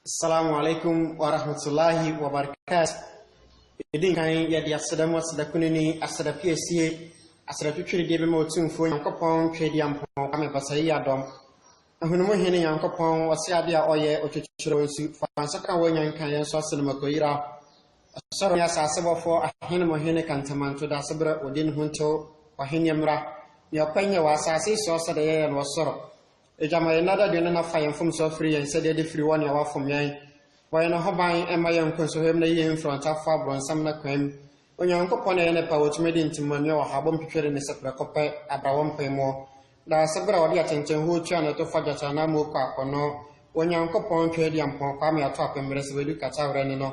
Assalamu alaikum wa rahmatullahi wa barakatuh. Yɛdi nkan yɛde aseda mu aseda kunini, aseda piesie, aseda twitwirideɛ bɛma otumfuo Nyankopɔn twɛdi ampɔn kwame basa yi adɔm. Ahunumu hene Nyankopɔn ɔse ade a ɔyɛ ɔtwitwiri wɔn su fa nsa ka wɔn nya nka yɛn nso ase no makɔyira. Ɔsɔre ne asase bɔfoɔ ahene mo hene kantamanto da ase berɛ ɔdi ne ho ntew ɔhene mmra. Nea ɔpɛ nyɛ wɔ asase so ɔsɛ deɛ yɛyɛ no wɔ soro. Agya, ma yɛn nnɛ dadwene na fa yɛn mfomso afiri yɛn sɛdeɛ de firi wɔn a wɔafom yɛn. Bɔ yɛn ho ban mma yɛn nkɔ nsohwɛm na yi yɛn firi ɔntafoɔ aborɔnsam no akwan mu. Onyankopɔn na ɛyɛ ne pɛ a ɔtumi de ntimua mia ɔhabɔ mpipire ne sɛ prɛko pɛ abra wɔn mpaemuo. Daa sɛ berɛ a ɔde atɛntɛnhuo tua na ɛto fa gyata anaa muo kɔ akɔnnɔ, Onyankopɔn twa adi ampɔn kwaa ma yɛato apemmere sɛ wadu kataawerɛ ne no,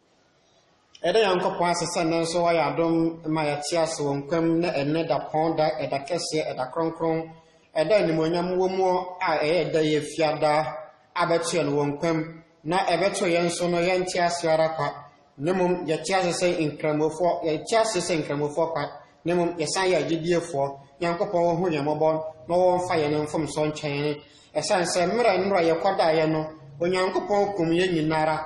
Yɛda Nyankopɔn ase sɛ nnɛ nso wayɛ adom ma yɛte ase wɔ nkwa mu na ɛnnɛ dapɔn da, ɛda kɛseɛ, ɛda kronkron, ɛda animuonyam wɔ mu a ɛyɛ ɛda yi efiada a bɛto yɛn wɔ nkwa mu na ɛbɛto yɛn nso no yɛnte ase ara kwa na mmom yɛte ase sɛ nkramofoɔ, yɛte ase sɛ nkramofoɔ kwa Na mmom yɛsan yɛ agyidiefoɔ, Nyankopɔn wɔhu yɛn mmɔbɔ na wɔmfa yɛn mfomsoɔ nkyɛ yɛn. Ɛsiane sɛ mmerɛ nnora a yɛkɔdaeɛ no, Onyankopɔn kumm yɛn nyina ara.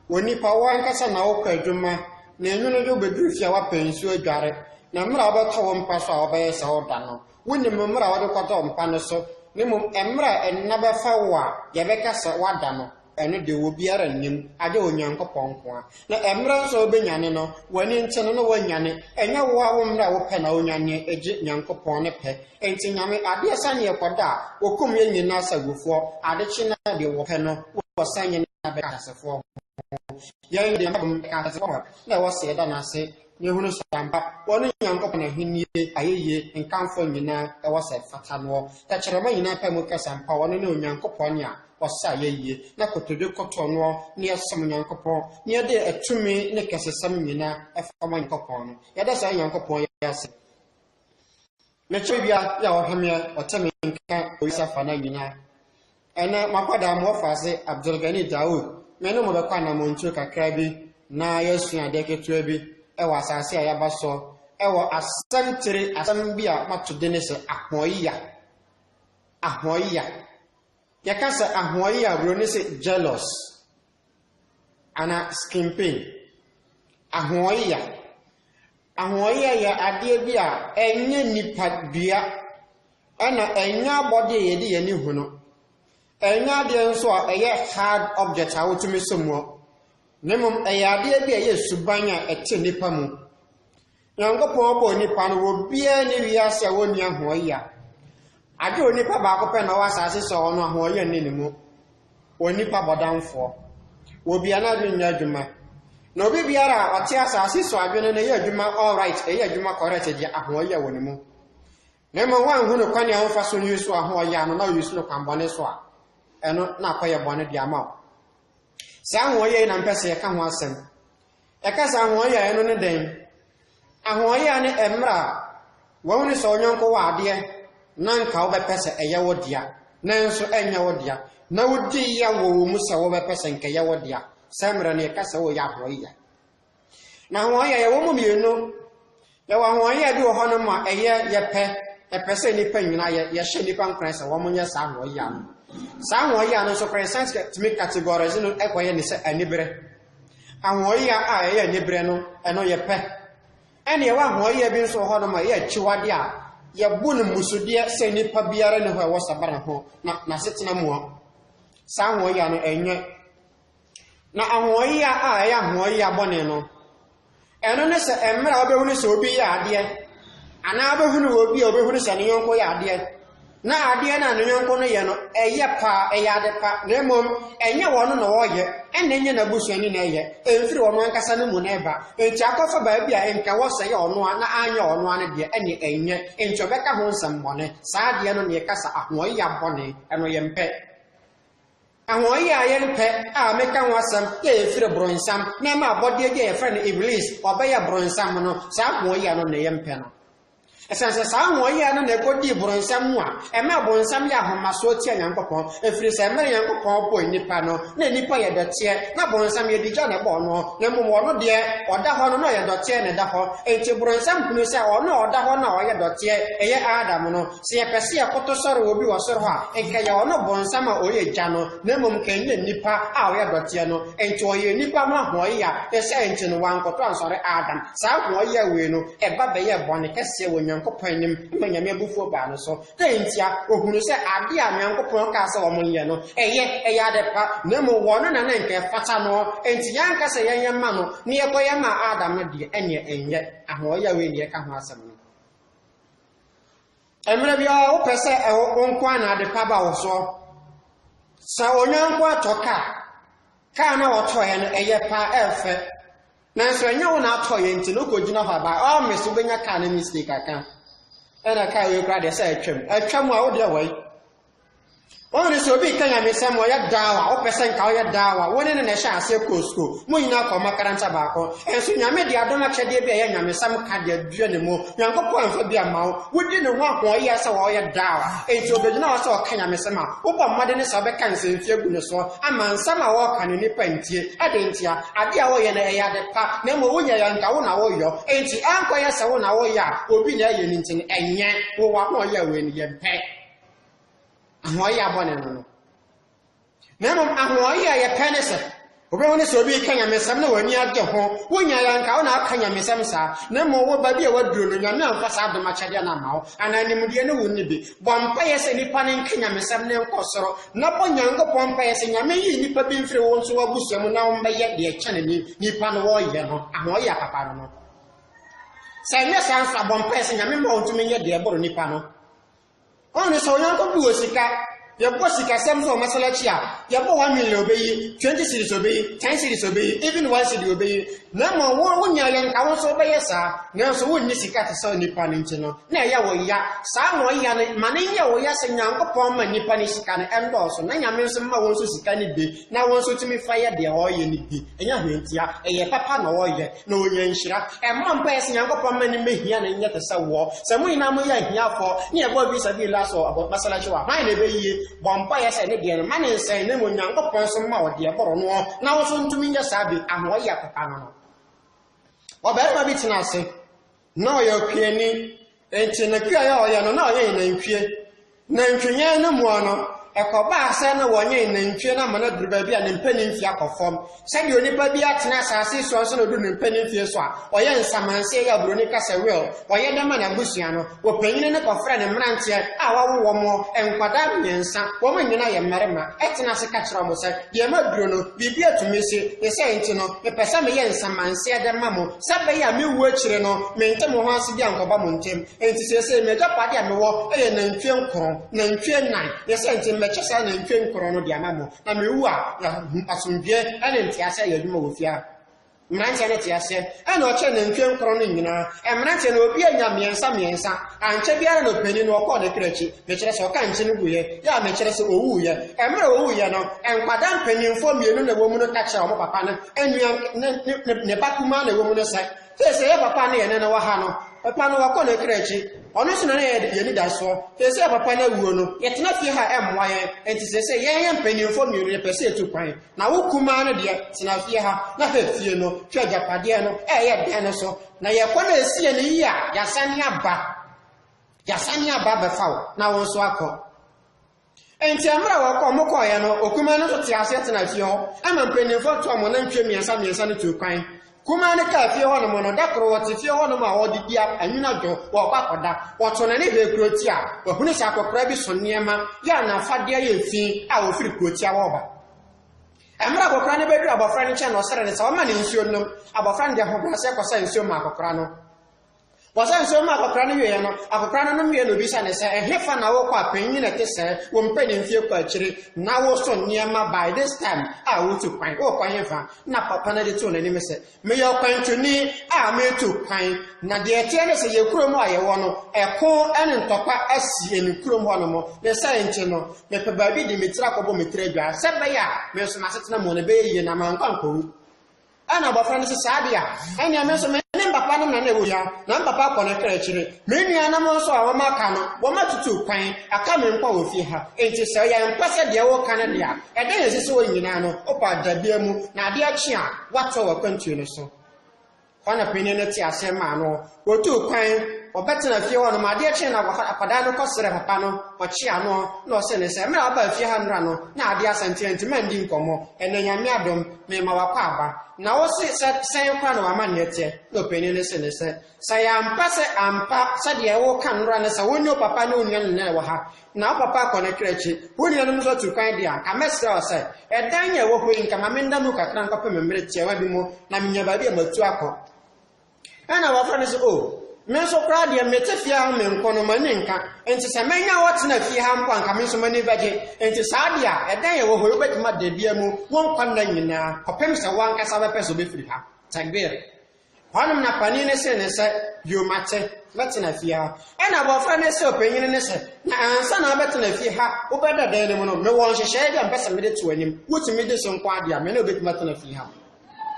Onipa, wo ankasa na wokɔ adwuma, na anwunnede wobɛduru fie a woapɛ nsuo adware, na mmerɛ a wobɛtɔ wo mpa so a wobɛyɛ sɛ woda no, wonnim mmerɛ a wode kɔtɔɔ mpa no so, na mmom mmerɛ a nna bɛfa wo a yɛbɛka sɛ woada no. Ɛno de, obiara nnim, agye Onyankopɔn nko ara. Na ɛmmerɛ nso a wobɛnyane no, w'ani nkye no na woanyane. Ɛnyɛ wo ara wo mmerɛ a wopɛ na wonyaneɛ, egye Nyankopɔn ne pɛ. Enti Nyame, adeɛ sane ɛkɔda a, wɔkum yɛn nyinaa sɛ agufoɔ. Ade kye no a, deɛ wɔpɛ no, wɔsan yɛn aba ateasefoɔ ho. Yɛn deɛ, mmabom, ɛka ateasefoɔ ho a, na ɛwɔ sɛ yɛda no ase. Yɛhunu sɛ ampa, wɔne Nyankopɔn Ahenni ayɛyie nkamfoɔ nyinaa ɛwɔ sɛ ɛfata noɔ. Tɛkyerɛma nyinaa pae mu ka sɛ ampa ɔno ne Onyankopɔn nea ɔsɛ ayɛyie, na kotodwe kotoɔ noɔ ne yɛsom Nyankopɔn, ne yɛde ɛtumi ne kɛsesɛm nyinaa ɛfa ma Nyankopɔn no. Yɛda saa Nyankopɔn yi ase. Mekyɛ owia yi a ɔhome a ɔte me nka Orissa afanan nyinaa. Ɛnnɛ m'akwadaa mu ɔfaase Abdulgani Daoud, me ne mo bɛkɔ anammɔntuo kakra bi na yɛasua adeɛ ketewa bi wɔ asase a yɛaba so wɔ asɛm tire asɛm bi a mato dene sɛ ahoɔyea. Ahoɔyea. Yɛka sɛ ahoɔyea a Buroni se jealous ana skin pain. Ahoɔyea. Ahoɔyɛ yɛ adeɛ bi a ɛnyɛ nnipa dua, ɛna ɛnyɛ abɔdeɛ a yɛde yɛn ani hu no. Ɛnyɛ adeɛ nso a ɛyɛ hard object a wotumi sɔ mu. Na mmom ɛyɛ adeɛ bi a ɛyɛ suban a ɛte nnipa mu. Nyankopɔn bɔɔ nnipa no, obiara ne wiase a wɔnni ahoɔyɛ. Agye onipa baako pɛ na ɔwɔ asase so a ɔno ahoɔyɛ nni ne mu. Onipa bɔdamfoɔ. Wɔ bia na adwene nyɛ adwuma. Na obi biara a ɔte asase so adwene no yɛ adwuma all right, ɛyɛ adwuma correct deɛ ahoɔyɛ wɔ ne mu. Na mmom wanhunu kwan a ɔmfa so use ahoɔyɛ ano na use no kwan bɔne so a, ɛno na akɔyɛ bɔne de ama wo. Saa ahoɔyɛ yi na mpɛ sɛ yɛka ho asɛm. Yɛka sɛ ahoɔyaa a, ɛno ne dɛn? Ahoɔyaa ne mmerɛ a wahunu sɛ wo yɔnko wɔ adeɛ na anka wobɛpɛ sɛ ɛyɛ wo dea nanso ɛnyɛ wo dea na wodi ya wɔ wo mu sɛ wobɛpɛ sɛ nka ɛyɛ wo dea. Saa mmerɛ no yɛka sɛ woreyɛ ahoɔyaa. Na ahoɔyaa yɛwɔ mu mmienu. Yɛwɔ ahoɔyɛɛ bi wɔ hɔnom ma ɛyɛ yɛpɛ, yɛpɛ sɛ nnipa nyina yɛ, yɛhyɛ nnipa nkuran sɛ wɔn nyɛ saa ahoɔyɛa no. Saa ahoɔyɛa no nso koraa science tumi categorize no kɔyɛ ne sɛ anibere. Ahoɔyɛa a ɛyɛ anibere no, ɛno yɛpɛ. Ɛne yɛwɔ ahoɔyɛa bi nso wɔ hɔnom ma ɛyɛ akyiwade a yɛbu no mmusudeɛ sɛ nnipa biara ne hɔ ɛwɔ sabara ho na n'asetena mua. Saa ahoɔyɛa no ɛnyɛ Na ahoɔyea a ɛyɛ ahoɔyea bɔne no, ɛno ne sɛ mmerɛ a wobɛhunu sɛ obi yɛ adeɛ, anaa wobɛhunu wɔ obi a wobɛhunu sɛ ne yɔnko yɛ adeɛ, na adeɛ no a ne yɔnko no yɛ no, ɛyɛ paa, ɛyɛ ade pa, na mmom ɛnyɛ wɔn na wɔyɛ, ɛna ɛnyɛ n'abusuani na ɛyɛ, ɛmfiri wɔn ankasa no mu na ɛba. Enti akɔfa baabi a nka wɔsɛ yɛ ɔno a na anyɛ ɔno a no deɛ, ɛne ɛnyɛ. Enti ɔbɛka ho nsɛmmɔne. Saa adeɛ no na yɛka sɛ ahoɔyea bɔne, ɛno yɛmpɛ. Hɔn yɛ ayɛnpɛ a mekã ho asɛm yɛ a efir bronsam na ɛma abɔdeɛ bi a yɛfrɛ no Iblis ɔbɛyɛ bronsam no, saa hɔn yɛ no na yɛ mpɛ no. Esiane sɛ saa hɔn yɛ no na ekodii bronsam mu a, ɛmaa bonsam yɛ ahomasoɔ tia Nyankopɔn, efiri sɛ mmerɛ Nyankopɔn bɔɔ nnipa no, na nnipa yɛ dɔteɛ, na bonsam yɛ digya na ɛbɔɔ no, na mmom ɔno deɛ, ɔda hɔ no na ɔyɛ dɔteɛ na ɛda hɔ. Enti bronsam hunuu sɛ ɔno a ɔda hɔ no a ɔyɛ dɔteɛ, ɛyɛ Adam no, Sɛ yɛpɛ sɛ yɛkoto sɔre obi wɔ soro hɔ a, nka ɛyɛ ɔno Bonsam a ɔyɛ gya no, na mmom nka ɛnyɛ nnipa a ɔyɛ dɔteɛ no. Enti ɔyɛɛ nnipa ho ahoɔyea, ne saa nti no, wankoto ansɔre Adam. Saa ahoɔyea wei no, ɛba bɛyɛɛ bɔne kɛseɛ wɔ Nyankopɔn anim ma Nyame abufuo baa no so. Dɛn ntia? Ɔhunuu sɛ adeɛ a Nyankopɔn kaa sɛ wɔnyɛ no, ɛyɛ, ɛyɛ ade pa, na mmom wɔ ɔno na na nka ɛfata noɔ. Enti yɛanka sɛ yɛnyɛ mma no, na yɛkɔyɛ maa Adam no deɛ, ɛnneɛ ɛnyɛ. Ahoɔyea wei na yɛka ho asɛm no. Mmerɛ biara wopɛ sɛ ɛwo wo nko a na ade pa ba wo soɔ. Sɛ onyanko atɔ ka, kaa na wɔtɔeɛ no ɛyɛ pa ɛfɛ. Nanso ɛnyɛ wo na atɔeɛ nti no wokɔgyina hɔ aba ɔme so wobɛnya kaa no mistake aka. Ɛna kaa wei koraa deɛ sɛ atwam. Atwam a wodeɛ wɔi. Wɔn sɛ obi reka nyamesɛm ɔyɛ daawa wopɛ sɛ nka ɔyɛ daawa wo ne no na ɛhyɛ aseɛ kɔɔ sukuu mo nyinaa kɔ makaranta baako ɛnso nyame de adom akyɛdeɛ bi a ɛyɛ nyamesɛm ka deɛ dua ne mu nyankopɔn amfa bi ama wo wodi ne ho ahoɔyɛ sɛ wɔyɛ daawa ɛnti obɛgyina hɔ sɛ ɔka nyamesɛm a wobɔ mmɔde ne sɛ wobɛka nsɛmfie gu ne so ama nsɛm a wɔka no nnipa ntie ɛde ntia adeɛ a woyɛ no ɛyɛ ade pa na mmɔ wonyɛ yɛ nka wo na woyɔ ɛnti ɛnkɔyɛ sɛ wo na woyɛ a obi na ɛyɛ no nti no ɛnyɛ wo wɔ ahoɔyɛ a wei no yɛmpɛ ahoɔyɛ a bɔne no no na mmom ahoɔyɛ a yɛpɛ ne sɛ wobɛhu ne sɛ obi reka nyamesɛm na w'ani agye ho wonya yɛ anka wo na aka nyamesɛm saa na mmom wo baabi a waduro no nyame amfa saa adom akyɛdeɛ no ama wo anaa nimdeɛ no wonni bi bɔ mpaeɛ sɛ nnipa no nka nyamesɛm ne nkɔ soro na bɔ nyankopɔn mpaeɛ sɛ nyame yi nnipa bi mfiri wo nso w'abusua mu na wommɛyɛ deɛ kyɛne ne nnipa no wɔyɛ no ahoɔyɛ a papa no no sɛ ɛnyɛ saa nso abɔ mpaeɛ sɛ nyame ma wo ntumi nyɛ deɛ ɛboro nnipa no Ɔn ne sɛ Onyankopɔn wɔ sika, yɛbɔ sikasɛm so wɔ masalakyi a, yɛbɔ one million obeyi, twenty cedis obeyi, ten cedis obeyi, even one cedi obeyi, na mmom wo wonya yɛ nka wo nso wobɛyɛ saa, nanso wonni sika te sɛ nnipa no nti no, na ɛyɛ wo ya. Saa na ɔya no, ma no nyɛ wo ya sɛ Nyankopɔn ma nnipa no sika no, ɛndɔɔso, na Nyame nso ma wɔn nso sika no bi, na wɔn nso tumi fa yɛ deɛ ɔreyɛ no bi. Ɛnyɛ hwentia, ɛyɛ papa na ɔreyɛ, na ɔnya nhyira. Ɛmmɔ mpaeɛ sɛ Nyankopɔn mma no mmɛhia no nyɛ te sɛ woɔ. Sɛ mo nyinaa moyɛ ahiafoɔ, ne ɛbɔɔ fi sabiilillah so wɔ masalakyi hɔ a, hwan na ɛbɛyie? Bɔ mpaeɛ sɛ ne deɛ no, mma no nsɛe, na mmom Nyankopɔn nso mma wo deɛ ɛboro noɔ, na wo nso ntumi nyɛ saa bi, ahoɔyɛ papa no no. Ɔbarima bi tenaa ase. Ná ɔyɛ ɔkweani, enti ne kweae a ɔyɛ no, na ɔyɛn nantwie. Nantwiyɛn no mua no, ɛkɔbaa sɛ na wɔnyɛn nantwie no ama no aduru baabi a ne mpanin mfe akɔ fam. Sɛdeɛ onipa biara tena asase so ansa na ɔduru ne mpanin mfeɛ so a, ɔyɛ nsamanseɛ yɛ aburoni ka sɛ will, ɔyɛ dɛ ma n'abusua no. Wɔpanyini no kɔfrɛɛ ne mmeranteɛ a wɔawo wɔn wɔ, nkwadaa mmiɛnsa, wɔn nyinaa yɛ mmarima, tena ase ka kyerɛɛ wɔn sɛ, Deɛ maduru no, biribi atumi asi, ne saa nti no, mepɛ sɛ meyɛ nsamanseɛ dɛ ma mo. Sɛ ɛbɛyɛ a me wu akyire no, mente mo ho ase bi ankɔba mo ntam. Enti seesei m'agyapadeɛ a mewɔ yɛ nantwie nkron, nantwie nnan, ne sɛ enti mɛkyɛ saa nantwie nkron no de ama mo. Na mewu a, yɛahu asomdwoeɛ ne nteaseɛ ayɛ adwuma wɔ fie ha. Mmeranteɛ no tee aseɛ. Ɛnna ɔkyɛɛ nantwie nkron no nyinaa. Mmeranteɛ no, obiara nyaa mmiɛnsa mmiɛnsa. Ankyɛ biara na ɔpanin no, ɔkɔɔ ne kra akyi. Mekyerɛ sɛ, ɔka nkyem guiɛ, yɛ a mekyerɛ sɛ, ɔwuiɛ. Mmerɛ a ɔwuiɛ no, nkwadaa mpanimfoɔ mmienu na ɛwɔ mu no ka kyerɛɛ wɔn papa no Anua ne ne ne ne ba kumaa na ɛwɔ mu no san. Sɛsɛ yɛ papa ne yɛn nana wɔ ha no, papa no wakɔ n'akra akyi. Ɔno nso na na yɛ yɛn anidasoɔ. Sɛsɛ papa no awuo no, yɛtena fie ha ɛmmoa yɛn. Enti sɛsɛ yɛn yɛn mpanimfoɔ mmienu yɛpɛ sɛ yɛtu kwan. Na wo kumaa no deɛ, tena fie ha na hwɛ fie no, hwɛ agyapadeɛ no ɛyɛ dɛn no so. Na yɛkɔ na ɛsiiɛ no yie a, yɛasane aba. Yɛasane aba abɛfa wo na wo nso akɔ. Enti mmerɛ a wɔkɔ wɔn kɔeɛ no, okumaa no nso tee aseɛ tenaa fie hɔ, ɛma mpanimfoɔ no toaa wɔn anantwie mmiɛnsa mmiɛnsa no tuu kwan. Kumaa no kaa fie hɔnom no, da koro ɔte fie hɔnom a ɔredidi a anwunnadwo wɔrekɔ akɔda. Ɔtoo n'ani hwɛɛ kurotia, ɔhunuu sɛ akɔkoraa bi so nneɛma yɛ a n'afadeɛ yɛ fi a wɔfiri kurotia hɔ reba. Mmerɛ a akɔkoraa no bɛduruu abɔfra no nkyɛn no ɔsrɛɛ no sɛ ɔmma no nsuo nnom, abɔfra no de ahobrɛaseɛ kɔsaa nsuo maa akɔkoraa no. Wɔsɛ nsuo ma akɔkora no wieɛ no, akɔkora no nom wieɛ na obisa ne sɛ, ɛhefa na wokɔ a panyin ɛte sɛɛ, wo mpanin fie kɔ akyiri, na wo so nneɛma by this time a wotu kwan, wokɔ hefa? Na papa no de too n'anim sɛ, meyɛ ɔkwantuni a metu kwan, na deɛ ɛteɛ ne sɛ yɛ kurom a yɛwɔ no, ɛko ne ntɔkwa asi emi kurom hɔ nom, ne saa nti no, mepɛ baabi de me tiri akɔbɔ me tiri adwaa, sɛ ɛbɛyɛ a, me nso m'asetena mu no ɛbɛyɛ yie na mankɔ ankɔwu. Ɛnna abɔfra no se, Saa de a, ɛnneɛ me nso me ne me papa no na na ɛwɔ hia, na me papa kɔ ne kra akyire. Me nuanom nso a wɔaka no, wɔatutu kwan aka me mpo wɔ fie ha. Enti sɛ yɛmpɛ sɛ deɛ woreka no de a, ɛdɛn na ɛsɛ sɛ wɔn nyinaa no, wopa adabea mu, na adeɛ kye a, woatoa w'akwantuo no so? Hɔ na panin no tee aseɛ maa no, Wotuu kwan, wɔbɛtenaa fie hɔ no ma adeɛ kyee no a akwadaa no kɔsrɛɛ papa no, ɔkyeaa no, na ɔsee no sɛ, Mmerɛ a wobaa fie ha nnora no, na adeɛ asa nti anti mandi nkɔmmɔ. Ɛnnɛ Nyame adom, meema w'akɔ aba. Na wo se sɛ sɛn koraa na w'amanneɛ teɛ? Na ɔpanin no see no sɛ, Sɛ ɛyɛ ampa sɛ ampa sɛdeɛ woreka nnora no sɛ wo ne wo papa ne wo nuanom nyinaa na ɛwɔ ha, na wo papa akɔ ne kra akyi, wo nuanom nso atu kwan deɛ a, anka mɛsrɛ wo sɛ, ɛdan a ɛwɔ hɔ yi, nka ma menna mu kakra nkɔpem mmerɛ tiawa bi mu, na menya baabi a matu akɔ. Ɛna abɔfra no sɛ, oh, me nso koraa deɛ mete fie ha me nko no m'ani nka, nti sɛ mɛnya wɔtena fie ha mpo anka me nso m'ani bɛgye, nti saa deɛ a ɛdɛn ɛwɔ hɔ wobɛtumi ada bia mu wo nkwa nna nyinaa kɔpem sɛ wankasa bɛpɛ sɛ wobɛfiri ha. Takbir. Hɔnom na panin no see ne sɛ, bio mate, mɛtena fie ha. Ɛna abɔfra no sɛ ɔpanyini no sɛ, na ansa na abɛtena fie ha wobɛda dan no mu no, mewɔ nhyehyɛeɛ bi a mpɛ sɛ mede to anim, wotumi de so nko adeɛ a, me ne wobɛtumi atena fie ha.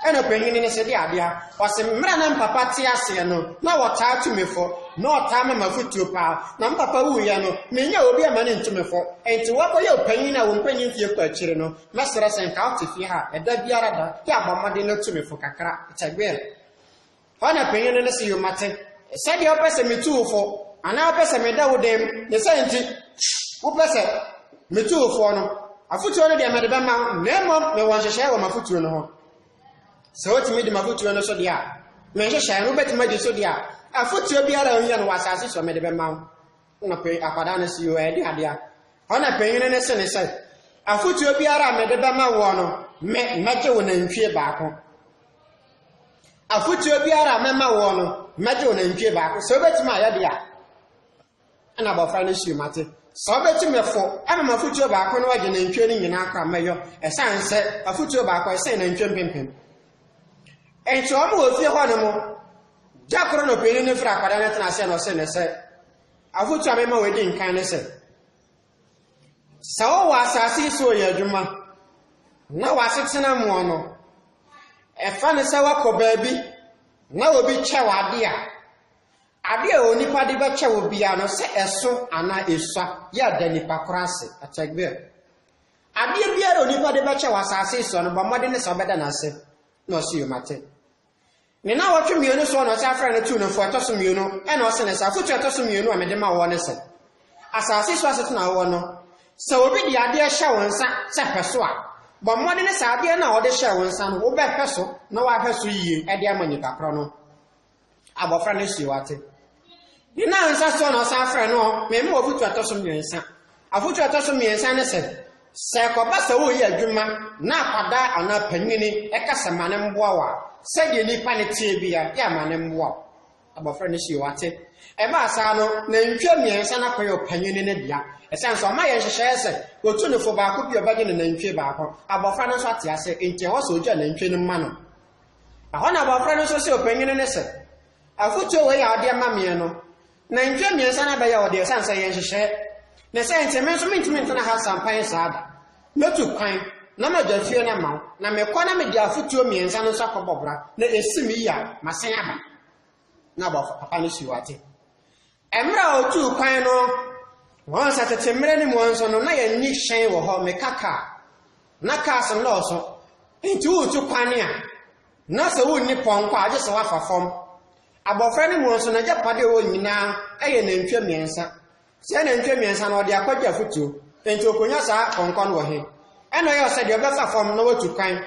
Ɛnna ɔpanyin no hyɛ de adeɛ a. Ɔse, mmerɛ na me papa te aseɛ no, na wɔtaa tu me fo. Na ɔtaa ma m'afotuo paa. Na me papa wuiɛ no, menyaa obi amma no ntu me fo. Enti woakɔyɛ ɔpanyin a wo mpanyin mfeɛ kɔ akyire no, mɛsrɛ sɛ nka wote fie ha a, ɛda biara da, yɛ abɔ mmɔden na tu me fo kakra. Kyɛgwɛɛ. Hɔ na panyin no ne se yoma te. Sɛdeɛ wopɛ sɛ metu wo fo, anaa wopɛ sɛ meda wo dan mu, ne sɛ nti wopɛ sɛ metu wo foɔ no, afotuo no deɛ mede bɛma wo, na mmom mewɔ nhyehyɛeɛ wɔ m'afotuo no ho. Sɛ wotumi di m'afotuo no so deɛ a, me nhyehyɛeɛ no wobɛtumi adi so deɛ a, afotuo biara a ɔhia no wɔ asase so mede bɛma wo. na panyin akwadaa no si yɛ ɛde adeɛ ɔna panyin no se ne sɛ afotuo biara a mede bɛma woɔ no me mɛgye wo nantwie baako afotuo biara a mɛma woɔ no mɛgye wo nantwie baako sɛ wobɛtumi ayɛ deɛ a ɛna abɔfra no sii mate sɛ wobɛtumi fo ɛma ma afotuo baako no agye nantwie no nyinaa kora mɛyɔ ɛsiane sɛ afotuo baako ɛsɛn nantwie mpempem Enti wɔn wɔ fie hɔ no mo, gya koro no panyin no firi akwadaa no tena aseɛ na ɔse ne sɛ, afotu a mema wɔadi nkan ne sɛ, sɛ wowɔ asase yi so ɔyɛ adwuma na w'asetena mu no, ɛfa ne sɛ woakɔ baabi na obi kyɛ w'ade a, ade a onipa de bɛkyɛ wo biara no sɛ ɛso anaa esua yɛ da nipa koro ase, atɛgbɛ. Adeɛ biara a onipa de bɛkyɛ wɔ asase yi soɔ no, bɔ mmɔden ne sɛ wobɛda no ase. Na ɔse, Yo, mate. Ne nnawɔtwe mmienu soɔ na ɔse afrɛ no tuu no fo ɛtɔ so mmienu, ɛna ɔse no sɛ, afotuo a ɛtɔ so mmienu a mede ma woɔ ne sɛ, asase yi so asetena a wowɔ no, sɛ obi de adeɛ hyɛ wo nsa sɛ hwɛ so a, bɔ mmɔden ne sɛ adeɛ no a ɔde hyɛɛ wo nsa no, wobɛhwɛ so na woahwɛ so yie de ama nipa korɔ no. Abɔfra no sii wate. Ne nansa soɔ na ɔsan frɛ no mema ɔfotu ɛtɔ so mmiɛnsa. Afotu ɛtɔ so mmiɛnsa ne sɛ, sɛ ɛkɔba sɛ woyɛ adwuma na akwadaa anaa panyini ɛka sɛ ma ne mmoa wo a, sɛdeɛ nipa ne teɛ bia, yɛ ama ne mmoa wo. Abɔfra no sii wate. Ɛbaa saa no, nantwie mmiɛnsa no akɔyɛ ɔpanyini no dea. Ɛsiane sɛ ɔma yɛ nhyehyɛeɛ sɛ wɔtu nofo baako bi ɔbɛgye ne nantwie baako. Abɔfra no nso ate ase, enti ɛwɔ sɛ ɔgya nantwie no ma no. Ɛhɔ na abɔfra no nso see ɔpanyin no sɛ, Afotuo wei a wode ama meɛ no, nantwie mmiɛnsa no abɛyɛ wo deɛ ɛsiane sɛ ɛyɛ nhyehyɛeɛ, ne sɛ enti me nso mentumi ntena ha sampan saa da. Mɛtu kwan na magya fie no ama wo, na mekɔ na mede afotuo mmiɛnsa no nso akɔbɔ bra, na ɛsi me yie a, masan aba. Na abɔfra papa no sii wate. Mmerɛ a ɔtuu kwan no, wɔn sɛ tete mmerɛ no mu nso no, na yɛnni hyɛn wɔ hɔ, meka kaa. Na cars nnɔɔso, nti woretu kwan a, na sɛ wonni pɔnkɔ a, gye sɛ woafa fam. Abɔfra no mu nso, n'agyapadeɛ wɔ nyinaa yɛ nantwie mmiɛnsa. Saa nantwie mmiɛnsa no, ɔde akɔgye afotuo, nti ɔkɔnya saa pɔnkɔ no wɔ he? Ɛna ɔyɛ sɛ deɛ ɔbɛfa fam na watu kwan.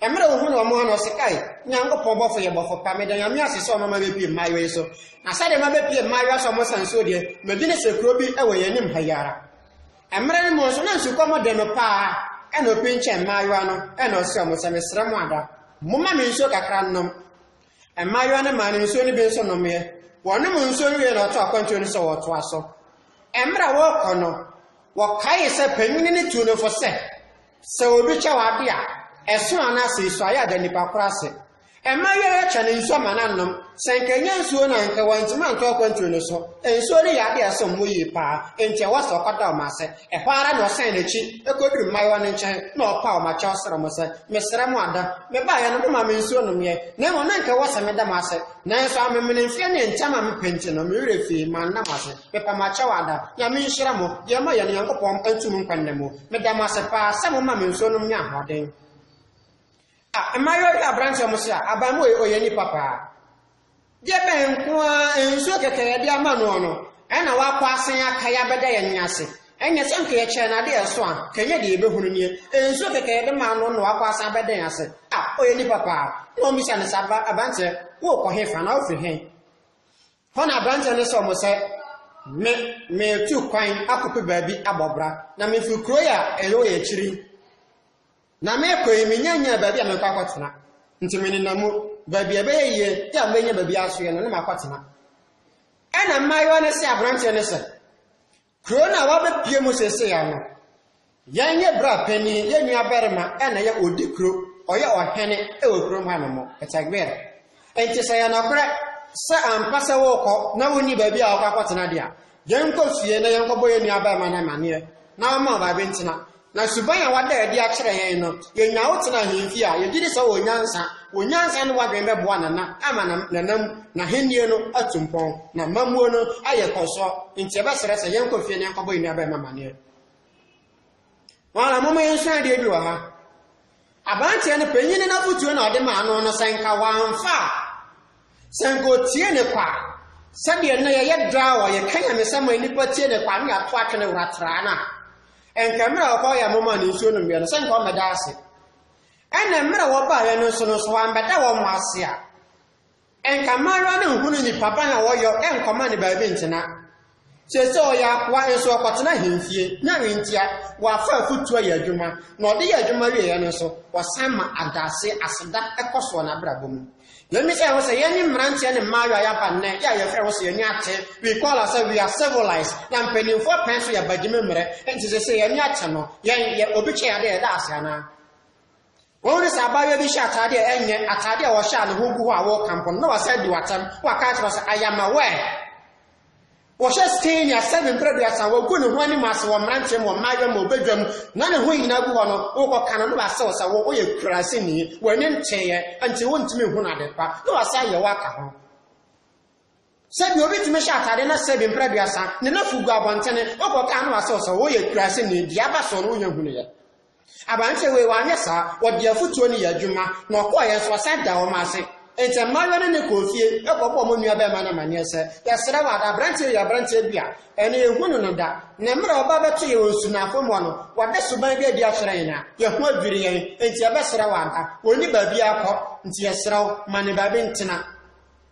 Mmerɛ ohunuu ɔmo no, ɔse, Kai, Nyankopɔn bɔfo yɛ bɔfo pa, meda Nyame ase sɛ ɔmama mepie mmaayewa yi so. Na sɛdeɛ mabɛpie mmaayewa so a ɔmo san nsuo deɛ, megyene sɛ kuro bi wɔ yɛn anim ha yi ara. Mmerɛ no mu nso na nsukɔm de no paa, ɛna ɔpinkyɛn mmaayewa no, ɛna ɔse ɔmo sɛ, Mesrɛ mo ada, momma me nsuo kakra nnom. Mmaayewa no maa no nsuo no bi nso nomeɛ. Wɔnom nsuo no wiee na ɔtoo akwantuo no sɛ wɔtoa so. Mmerɛ a wɔɔkɔ no, wɔkaee sɛ panyini no tuu no fo sɛ, Sɛ obi kyɛ wo ade a, ɛso anaa sɛ esu a, yɛ a da nipa koro ase. Mma wiara atwa no nsu ama no anom. Sɛ anka ennya nsuo no a, anka wantumi antɔ akwantuo no so. Nsuo no yɛ ade a ɛsom bo yie paa, enti ɛwɔ sɛ ɔkɔda wɔn ase. Ɛhɔ ara na ɔsan n'akyi kɔduru mmaayewa no nkyɛn na ɔpaw wɔn akyɛw srɛ wɔn sɛ, Mesrɛ mo ada, mebaeɛ no, momaa me nsuo nomeeɛ, na mmom na anka ɛwɔ sɛ meda mo ase. Nanso amemene mfeɛ ne ntɛm a mepɛ nti no, me werɛ fii, manna mo ase. Mepa mo akyɛw ada. Nyame nhyira mo. Deɛ moyɛ no, Nyankopɔn ntu mo nkwa nna mu. Meda mo ase paa sɛ moma me nsuo nom nya ahoɔden. Ah, mmaayewa bi aberanteɛ mo se a, aban mu ɔyɛ nipa paa. Deɛ bɛn nko ara nsuo kɛkɛ yɛde ama noɔ no, ɛna wakɔ asan akae abɛda yɛn ne ase. Ɛnyɛ sɛ nka yɛkyɛɛ no adeɛ ɛso a, nka ɛnyɛ deɛ yɛbɛhunu nie. Nsuo kɛkɛ yɛde maa no na wakɔ asan abɛda yɛn ase. Ah, ɔyɛ nipa paa. Na wɔbisa no sɛ, aberanteɛ, wokɔ he fa na wofiri he? Hɔ na aberanteɛ no sɔɔ mo sɛ, Me, meretu kwan akɔpɛ baabi abɔ bra, na mefiri kuro yi a ɛwɔ yɛn akyiri yi, na merekɔ yi menya nyaa baabi a merekɔ akɔtena, nti menenam mu, baabi a ɛbɛyɛ yie yɛ a mɛnya baabi asoeɛ no na makɔtena. Ɛna mmaayewa no se aberanteɛ no sɛ, Kuro no a wabɛpue mu seesei ara no, yɛn yɛ bra panin, yɛn nua barima na ɛyɛ ɔdi kuro, ɔyɛ ɔhene wɔ kuro mu ha nom, it's a guerre. Nti sɛ yɛ nɔkorɛ sɛ ampa sɛ wokɔ na wonni baabi a wokɔ akɔtena deɛ a, yɛnkɔ fie na yɛnkɔbɔ yɛn nua barima no amaneɛ na ɔmma ɔbaa bi ntena. Na suban a wɔada adi akyerɛ hɛn no, yenya wo tsena hɛn fie a, yɛgye di sɛ ɔwɔ nyansa. Wɔ nyansa no w'adwen bɛboa Nana ama na Nana mu n'Ahenni no atu mpɔn, na amammuo no ayɛ kɔsɔ. Enti yɛbɛsrɛ sɛ yɛnkɔ fie na yɛnkɔbɔ yɛn nuabarima amaneɛ. Wɔn ara momma yɛnsua adeɛ bi wɔ ha. Aberanteɛ no panyin no afotuo na ɔde maa no no sɛ nka wamfa a, sɛ nka ɔtie ne kwa. Sɛdeɛ nnɛ yɛyɛ daa wɔ yɛka nyamesɛm a nnipa tie ne kwa ne yɛato atwene wura traa no a, nka mmerɛ a ɔkɔɔ yɛ moma ne nsuo nommeɛ no sɛ nka ɔmmɛda ase. Ɛna mmerɛ wɔbaeɛ no nso no nso wambɛda wɔn ase a, Nka mmaayewa no nhunu nnipa pa na wɔyɔ nkɔma ne baabi ntena. Seesei ɔyɛ akoa nso ɔkɔtena ahemfie, na ntia, wafa afotuo ayɛ adwuma, na ɔde yɛ adwuma wieeɛ no nso, ɔsan ma adase, aseda, kɔ soɔ n'abrabɔ mu. Yɛmmisa yɛn ho sɛ, yɛne mmeranteɛ ne mmaayewa a yɛaba nnɛ yɛ a yɛfrɛ ho sɛ yɛn ani ate, we call ourselves we are civilized, na mpanimfoɔ pɛn so yɛ bagyimi mmerɛ, enti seesei yɛn ani ate no, yɛn, yɛ, obi kyɛ yɛn ade a yɛda ase anaa? Wɔn de sɛ abaayewa bi hyɛ ataade a ɛnyɛ ataade a wɔhyɛ a ne ho gu hɔ a wɔrekamfo no na wasan di w'atɛm na waka akyerɛ sɛ I am aware. Wɔhyɛ Scania seven mpere aduasa wɔgu ne ho anim ase wɔ mmeranteɛ mu wɔ mmaayewa mu ɔbɛdwa mu na ne ho nyinaa gu hɔ no wokɔka no na wasew sɛ wo woyɛ kuraseni w'ani nteeɛ nti wontumi nhu no adepa na wasan yɛ wo aka ho. Sɛ deɛ obi tumi hyɛ atadeɛ na sɛ bi mprɛ aduasa, ne nafu gu abɔntene, wokɔ kaa no asɛ ɔsɛ woyɛ kuraase ni, deɛ aba soɔ no wonya hunuiɛ. Aberanteɛ wei wanyɛ saa, ɔde afutuo no yɛ adwuma, na ɔkɔɔeɛ nso ɔsan daa wɔn ase. Enti mmaayewa no ne kɔɔ fie kɔbɔɔ wɔn nua barima no amaneɛ sɛ, yɛsrɛ wo ada, aberanteɛ wei yɛ aberanteɛ bi a ɛnɛ yɛnhunu no da, na mmerɛ a ɔba bɛto yɛn wɔ nsunaafo mua no, wada suban bi adi akyerɛ yɛn a, yɛn ho adwiri yɛn, enti yɛbɛsrɛ wo ada, ɔnni baabiara kɔ, enti yɛsrɛ wo ma no baabi ntena.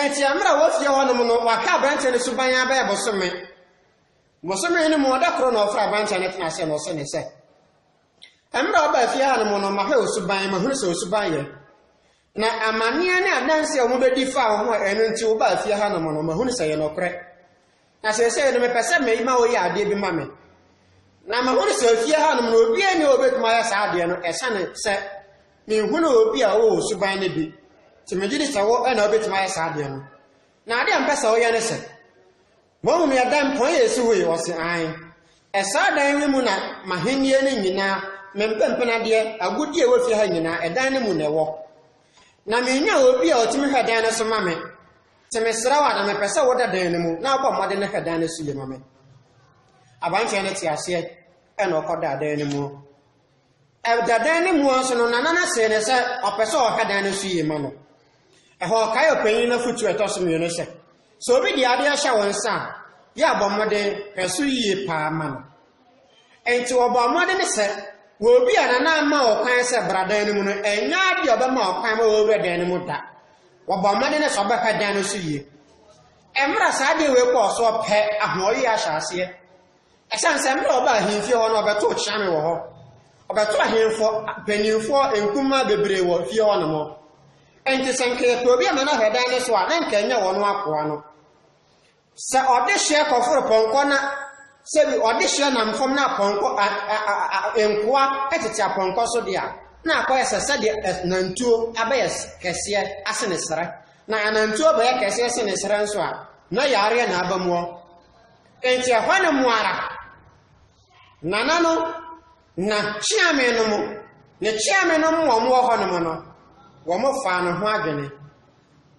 Enti mmerɛ a ɔwɔ fie hɔ nom no, ɔhwɛ aberanteɛ no suban ara bɛyɛ bosome. Bosome no mu, ɔda koro na ɔfrɛ aberanteɛ no tena ase na ɔse no sɛ, Mmerɛ a ɔbaa fie ha nom no, mahwɛ wo suban, mahunu sɛ wo suban yɛ. Na amanneɛ ne adanseɛ a wɔbɛdi faa wo ho a ɛno nti wobaa fie ha nom no, mahunu sɛ ɛyɛ nɔkorɛ. Na seesei no mepɛ sɛ me ma woyɛ adeɛ bi ma me. Na mahunu sɛ fie hanom no obiara nni hɔ ɔbɛtumi ayɛ saa adeɛ no ɛsiane sɛ menhunu obi a ɔwɔ suban no bi. Nti megye di sɛ wo na wobɛtumi ayɛ saa adeɛ no. Na adeɛ a mepɛ sɛ woyɛ ne sɛ, Mahu me ɛdan pɔn a ɛsi hɔ yi? Ɔse, Aane. Ɛsaa dan yi mu na m'ahennie no nyinaa, me mpempenadeɛ, agudeɛ a ɛwɔ fie ha nyinaa, ɛdan no mu na ɛwɔ. Na mennya obi a ɔtumi hwɛ dan no so ma me. Te mesrɛ wo a, na mepɛ sɛ woda dan no mu na wobɔ mmɔden na hwɛ dan no so yie ma me. Aberanteɛ no te aseɛ ɛna ɔkɔdaa dan no mu. Ɛda dan no mu nso no, nana no see no sɛ ɔpɛ sɛ ɔhwɛ dan no so yie ma no. Ɛhɔ ɔkae ɔpanyin no afotuo ɛtɔ so mmienu sɛ, sɛ obi de adeɛ hyɛ wo nsa a, yɛ abɔ mmɔden hwɛ so yie paa ma no. Enti wɔbɔɔ mmɔden sɛ wobia na na ama wɔn kwan sɛ bra dan no mu no ɛnyɛ adeɛ ɔbɛma wɔn kwan ma wɔwura dan no mu da. Wɔbɔɔ mmɔden sɛ wɔbɛhwɛ dan no so yie. Mmerɛ saa adeɛ wei kɔɔ soɔ pɛ ahoɔyie ahyɛ aseɛ. Ɛsiane sɛ mmerɛ ɔba ahemfie hɔ no ɔbɛtoo kyeame wɔ hɔ. Ɔbɛtoo ahemfo mpanimfoɔ nkumaa bebree wɔ fie hɔ nom. Enti sɛ nka yɛpɛ obi ama no ahwɛ dan no so a na nka ɛnyɛ wɔn akoa no. Sɛ ɔdehyeɛ kɔforo pɔnkɔ na sɛ bi ɔdehyeɛ nam fam na apɔnkɔ a, a, a, a, a, nkoa tete apɔnkɔ so deɛ a, na akɔyɛ sɛ sɛdeɛ nantuo abɛyɛ kɛseɛ asene serɛ. Na anantuo bɛyɛ kɛseɛ sene serɛ nso a, na yareɛ na aba muɔ. Enti ɛhɔ ne mu ara, nana no na kyeame no mu, ne kyeame no mu wɔn wɔ hɔ nom no, wɔn faa ne ho adwene.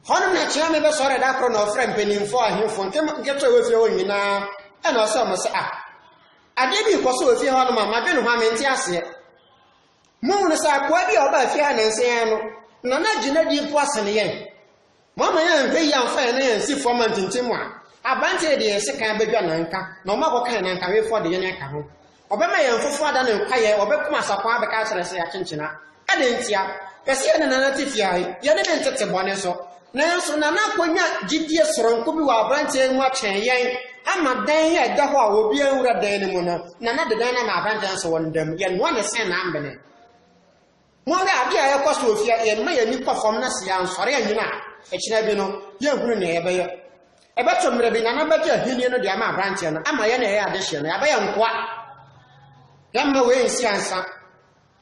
Hɔnom na Kyeame bɛsɔree da koro na ɔfrɛɛ mpanimfoɔ, ahemfo, nketewa a wɔfie hɔ nyinaa, ɛna ɔsɛ wɔn sɛ, Ah, adeɛ bi rekɔ so wɔ fie hɔnom a madwene ho a mente aseɛ. Mohunu sɛ akoa bi a ɔbaa fie ha nansa yi no, na n'agye n'adi mpo asene yɛn. Moama yɛanhwɛ yie amfa yɛn nan ansi fam antintim a, aberanteɛ yi de yɛn sekan abɛdwa nanka, na wɔakɔka yɛn nankawefoɔ de yɛn aka ho. Ɔbɛma yɛn foforo ada ne nkwayɛ, ɔbɛko asakwaa bɛka akyerɛ sɛ yɛakyenkyena. Adɛn ntia? Pɛ sɛ yɛne Nana te fie ahe, yɛne ne ntete bɔne so. Nanso Nana akonya gyidie soronko bi wɔ aberanteɛ yi mu akyɛn yɛn, ama dan a ɛda hɔ a obiara nwura dan no mu no, Nana de dan no ama aberanteɛ no sɛ ɔnda mu. Yɛnoa ne sɛn na ambene? Monnhwɛ ade a ɛrekɔ so wɔ fie a yɛmma yɛn ani kɔ fam na sɛ yɛansɔre annyina a, ɛkyena bi no, yɛnhunu nea yɛbɛyɛ. Ɛbɛto mmere bi na n'abagye ahenni no de ama aberanteɛ no ama yɛn a yɛyɛ adehyeɛ no, yɛabɛyɛ nkoa. Yɛmma wei nsi ansa.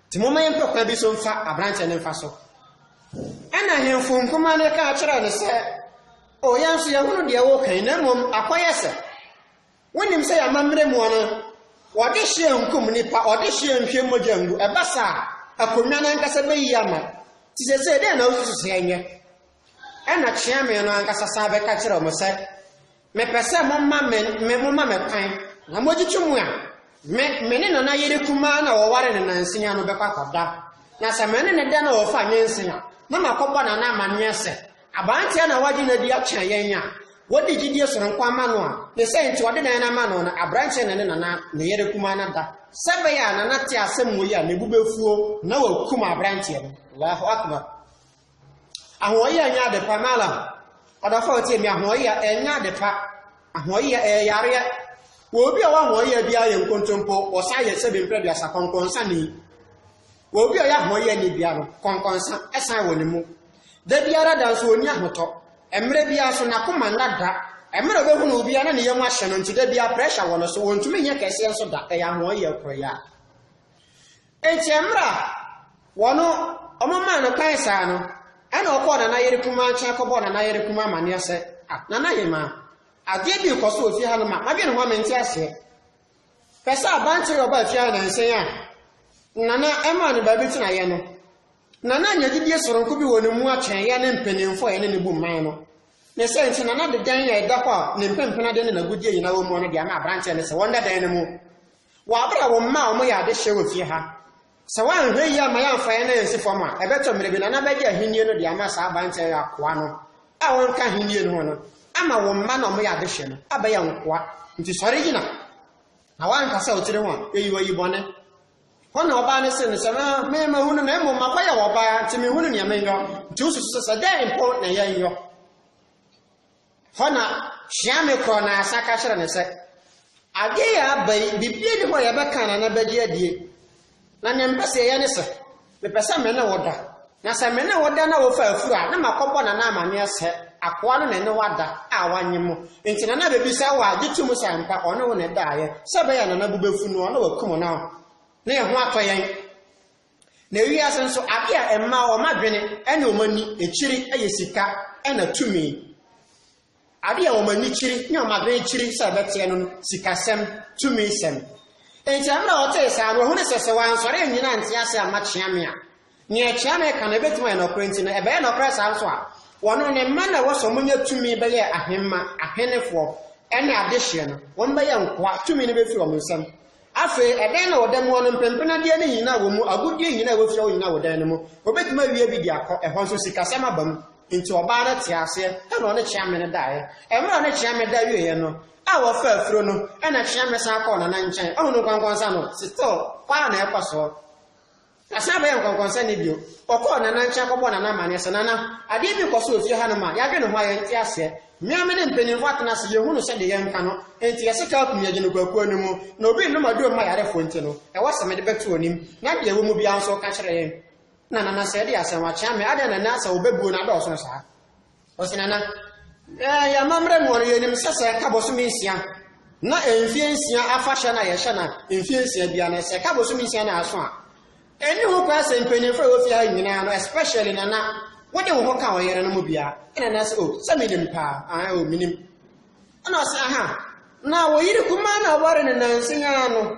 Nti momma yɛmpɛ kwan bi so mfa aberanteɛ no mfa so. Ɛna ahemfo nkumaa no ka kyerɛɛ no sɛ, O yɛn nso yɛahunu deɛ woreka yi, na mmom akɔyɛ sɛ. Wonim sɛ y'amammerɛ mu ɔno wɔdehyeɛ nkum nnipa, ɔdehyeɛ nhwɛ mogya ngu, ɛba saa a, akonnwa no ankasa bɛyi ama. Nti seesei dɛn na wosusu sɛ ɛnyɛ? Ɛnna kyeame no ankasa san bɛka kyerɛɛ wɔn sɛ, Mepɛ sɛ moma me, me, moma me kwan, na mogyegye mu a, me, me ne nana yere kumaa na wɔware no nansia no bɛkɔ akɔda. Na sɛ me ne ne da na wɔfa nwensen a, na makɔbɔ nana amanneɛ sɛ, Aberanteɛ na wagye no adi akyerɛ yɛn a wɔdi gyidie sononko ama no a ne sɛ nti ɔde nana ama no no aberanteɛ na ne nana ne yere kumaa no da sɛ ɛbɛyɛ a nana te asɛm wei a ne bo bɛfuo na wakum aberanteɛ no Allahu Akbar ahoɔyea nyɛ ade pa malam ɔdɔfo a ɔtie mi ahoɔyea ɛnyɛ ade pa ahoɔyea ɛyɛ yareɛ wɔ obi a ɔwɔ ahoɔyea biara yɛ nkontompo ɔsan yɛ sɛ bɛmpira duasa kɔnkɔnsa ni wɔ obi a ɔyɛ ahoɔyea ni biara no kɔnkɔnsa ɛsan wɔ ne mu Da biara da nso ɔnni ahotɔ. Mmerɛ biara nso n'akoma nna da. Mmerɛ a ɔbɛhunu wo biara na ne yam ahyɛ no nti da biara pressure wɔ no so, ɔntumi nyɛ kɛseɛ nso da, ɛyɛ ahoɔyɛ koraa. Nti mmerɛ a wɔn wɔn maa no kwan saa no, ɛna ɔkɔɔ nana yere kumaa nkyɛn kɔbɔɔ nana yere kumaa amaneɛ sɛ, ah nana hemaa, adeɛ bi rekɔ so wɔ fie ha no ma madwene ho a mente aseɛ. Pɛ sɛ abantere ɔbaa fie ha nansan a nana ɛmaa no baabi tenaeɛ no, Na na anya gyidie soronko bi wɔ ne mu akyɛn yɛn ne mpaninfoɔ a yɛne no bu mman no. Ne saa nti na na de dan a ɛda hɔ a ne mpempenadeɛ ne n'agudeɛ nyinaa wɔ mu no de ama aberanteɛ no sɛ wɔnda dan no mu. Wɔ aberɛ a wo mma a wɔyɛ adehyeɛ wɔ fie ha, sɛ woanhwɛ yie amma yɛamfa yɛn ansi fam a, ɛbɛtɔ mmerɛ bi na na bɛgye ahennie no de ama saa aberanteɛ yi akoa no a ɔnka ahennie no ho no ama wo mma na wɔyɛ adehyeɛ no abɛyɛ nkoa. Nti sɔre gyina. Na woanka sɛ wo tiri ho a, ɛyi wo ayi bɔne. Hɔ na ɔbaa no see no sɛ, Aa, me mahunu na mmom makɔyɛ wɔ ɔbaa, nti menhunu nea menyɔ. Nti wosusu sɛ sɛ dɛn mpo na yɛnyɔ? Hɔ na Hweame kɔɔ n'asa ka kyerɛ no sɛ, Adeɛ yɛ aba yi, biribiara nni hɔ a yɛbɛka anaa na bɛgye adie. Na nea mepɛ sɛ yɛyɛ ne sɛ, Mepɛ sɛ me ne wo da. Na sɛ me ne wo da na wofa afuru a, na makɔbɔ Nana amanneɛ sɛ akoa no na ɛne wo ada a wannye mo. Enti Nana bebisa wo a, gye tom sɛ ampa ɔne wo na ɛdaeɛ. Sɛ ɛbɛyɛ a Nana bo bɛfu no a, na wakum wo na na yɛn ho atɔ yɛn. Na wiase nso, ade a ɛma wɔn adwene ne wɔn ani kyiri yɛ sika na tumi. Ade a wɔn ani kyiri ne wɔn adwene kyiri sɛ ɛbɛteɛ no no, sikasɛm, tumisɛm. Enti ɛberɛ a ɔtee saa no, ɔhunuu sɛ sɛ wansɔre annyina ante ase amma kyeame a, nea kyeame reka no ɛbɛtumi ayɛ nokorɛ nti no, ɛbɛyɛ nokorɛ saa nso a, wɔnom ne mma na ɛwɔ sɛ wɔnya tumi bɛyɛɛ ahemma, ahenefoɔ, ne adehyeɛ no, wɔbɛyɛ nkoa, tumi no bɛfiri wɔn nsam. Afei, ɛdan na ɔda mua no, mpempenadeɛ no nyina wɔ mu, agudeɛ nyina a wɔafira hɔ nyina wɔ dan no mu. Wɔbɛtumi awia bi de akɔ, ɛhɔ nso sikasɛm aba mu. Enti ɔbaa no tee aseɛ, ɛna ɔne Kyeame no daeɛ. Ɛmerɛ a ɔne Kyeame da wieeɛ no, a wɔfaa afuro no, ɛna Kyeame san kɔɔ Nana nkyɛn. Ahunu nkwankwansa no, still, hɔ ara na ɛkɔ soɔ. Ɔsan bɛyɛɛ nkɔnkɔnsɛni bio. Ɔkɔɔ Nana nkyɛn kɔbɔɔ Nana amanneɛ sɛ, Nana, adeɛ bi rekɔ so wɔ fie hanom a, yɛadwene ho a, yɛnte aseɛ. Me ara me ne mpanimfoɔ atena ase, yɛhunu sɛ deɛ yɛnka no, enti yɛse ka akum yɛgye no kwakuo no mu. Na obi nnom aduro mma yarefoɔ nti no, ɛwɔ sɛ mede bɛto w'anim, na deɛ ɛwɔ mu biara nso woka kyerɛ yɛn. Na Nana sɛ, Ɛdeɛ asɛm akyea me, adɛn na nnɛ asɛ wobɛbuo no adɔɔso saa? Ɔse Nana, eh, yɛn amammerɛ mu no yɛnim sɛ sɛ ɛka bosome nsia na mfeɛ nsia afahyɛ na yɛhyɛ na mfeɛ nsia bia na sɛ ɛka bosome nsia na aso a ɛni ho kwan sɛ mpanyinfoɔ a wɔfie ha nyinaa no especially Nana wode wo ho ka ɔyere no mu bia ɛna na sɛ o oh, sɛ menim paa, ah, o oh, menim ɛna ɔse aha na wɔyere kumaa na ɔware no nanse nyaa no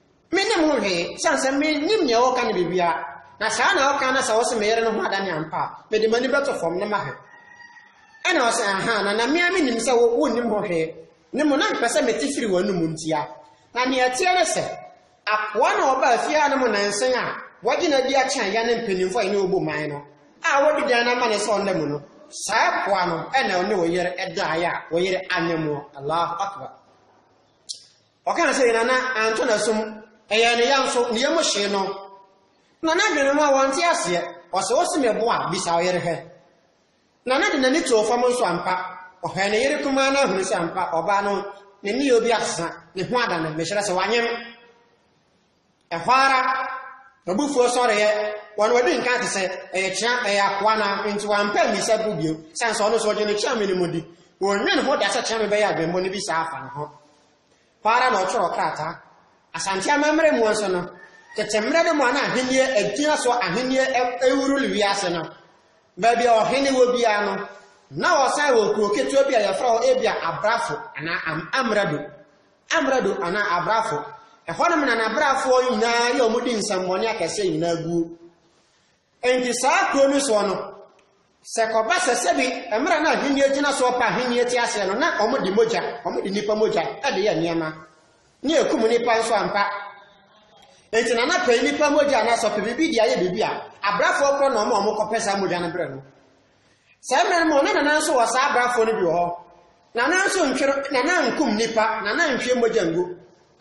Me ne mo hwee, sane sɛ me nim nea ɔɔka no biribiara, na saa na ɔkaa na sɛ ɔse me yere no ho adane ampa a, mede m'ani bɛto fɔm na mahwɛ. Ɛna ɔse ahaa, na na me ara me nim sɛ wo, wo nnim ho hwee, ne mo na mpɛ sɛ me te firi w'anum ntia. Na nea ɛteɛ ne sɛ, akoa na ɔbaa fie ha no mo nansen a, wagye no adi akyɛn yɛne mpaninfo a yɛne ɔbu man no, a wadi dan no amane sɛ ɔnna mu no, saa akoa no na ɔne wo yere daeɛ a wo yere anyɛ moɔ, Allahu Akbar. Ɔkaa sɛ, Nana antɔ n'asom, ɛyɛɛ ne ya nso, ne yam hyee no. Nana adwene ho a wante aseɛ, ɔse wose me bo a, bisa wo yere hwɛ. Nana de n'ani too fam nso ampa, ɔhwɛɛ ne yere kumaa no ahunu sɛ ampa ɔbaa no ne nneyɛɛ bi asesa, ne ho adane, mekyerɛ sɛ wanyem. Ɛhɔ ara, m'abufuo sɔreeɛ, wɔn a wɔdi nka te sɛ ɛyɛ kyea, ɛyɛ akoa no ara, enti wɔampɛ ammisa bo bio, sane sɛ ɔno nso ɔgye no kyea me no mu di. Wɔnnwen ho da sɛ kyea me bɛyɛ adwemmɔ no bi saa afa ne ho. Hɔ ara na ɔtwerɛɛ krataa. Asante amammerɛ mu nso no, tete mmerɛ no mu a na ahennie agyina so ahennie rerule wiase no, baabi a ɔhene wɔ biara no, na wɔsan wɔ kuro ketewa bi a yɛfrɛ hɔ ebia Abrafo anaa Am Amrado. Amrado anaa Abrafo. Ɛhɔnom na na Abrafoɔ nyinaa yɛ wɔn di nsɛmmɔne akɛseɛ nyinaa guo. Enti saa kuro no soɔ no, sɛ kɔba sɛ sɛbi mmerɛ no ahennie gyina soɔ pa ahennie te aseɛ no, na wɔn de mogya, wɔn de nipa mogya de yɛ nneɛma. Ne ɛkum nipa nso ampa. Enti na na pɛ nipa mogya anaa sɔpɛ biribi de ayɛ biribi a, Abrafoɔ korɔ na wɔn a wɔkɔpɛ saa mogya no berɛ no. Saa mmerɛ no mu no, na Nana nso wɔ saa abrafoɔ no bi wɔ hɔ. Nana nso ntwere, Nana nkum nnipa, Nana nhwie mogya ngu.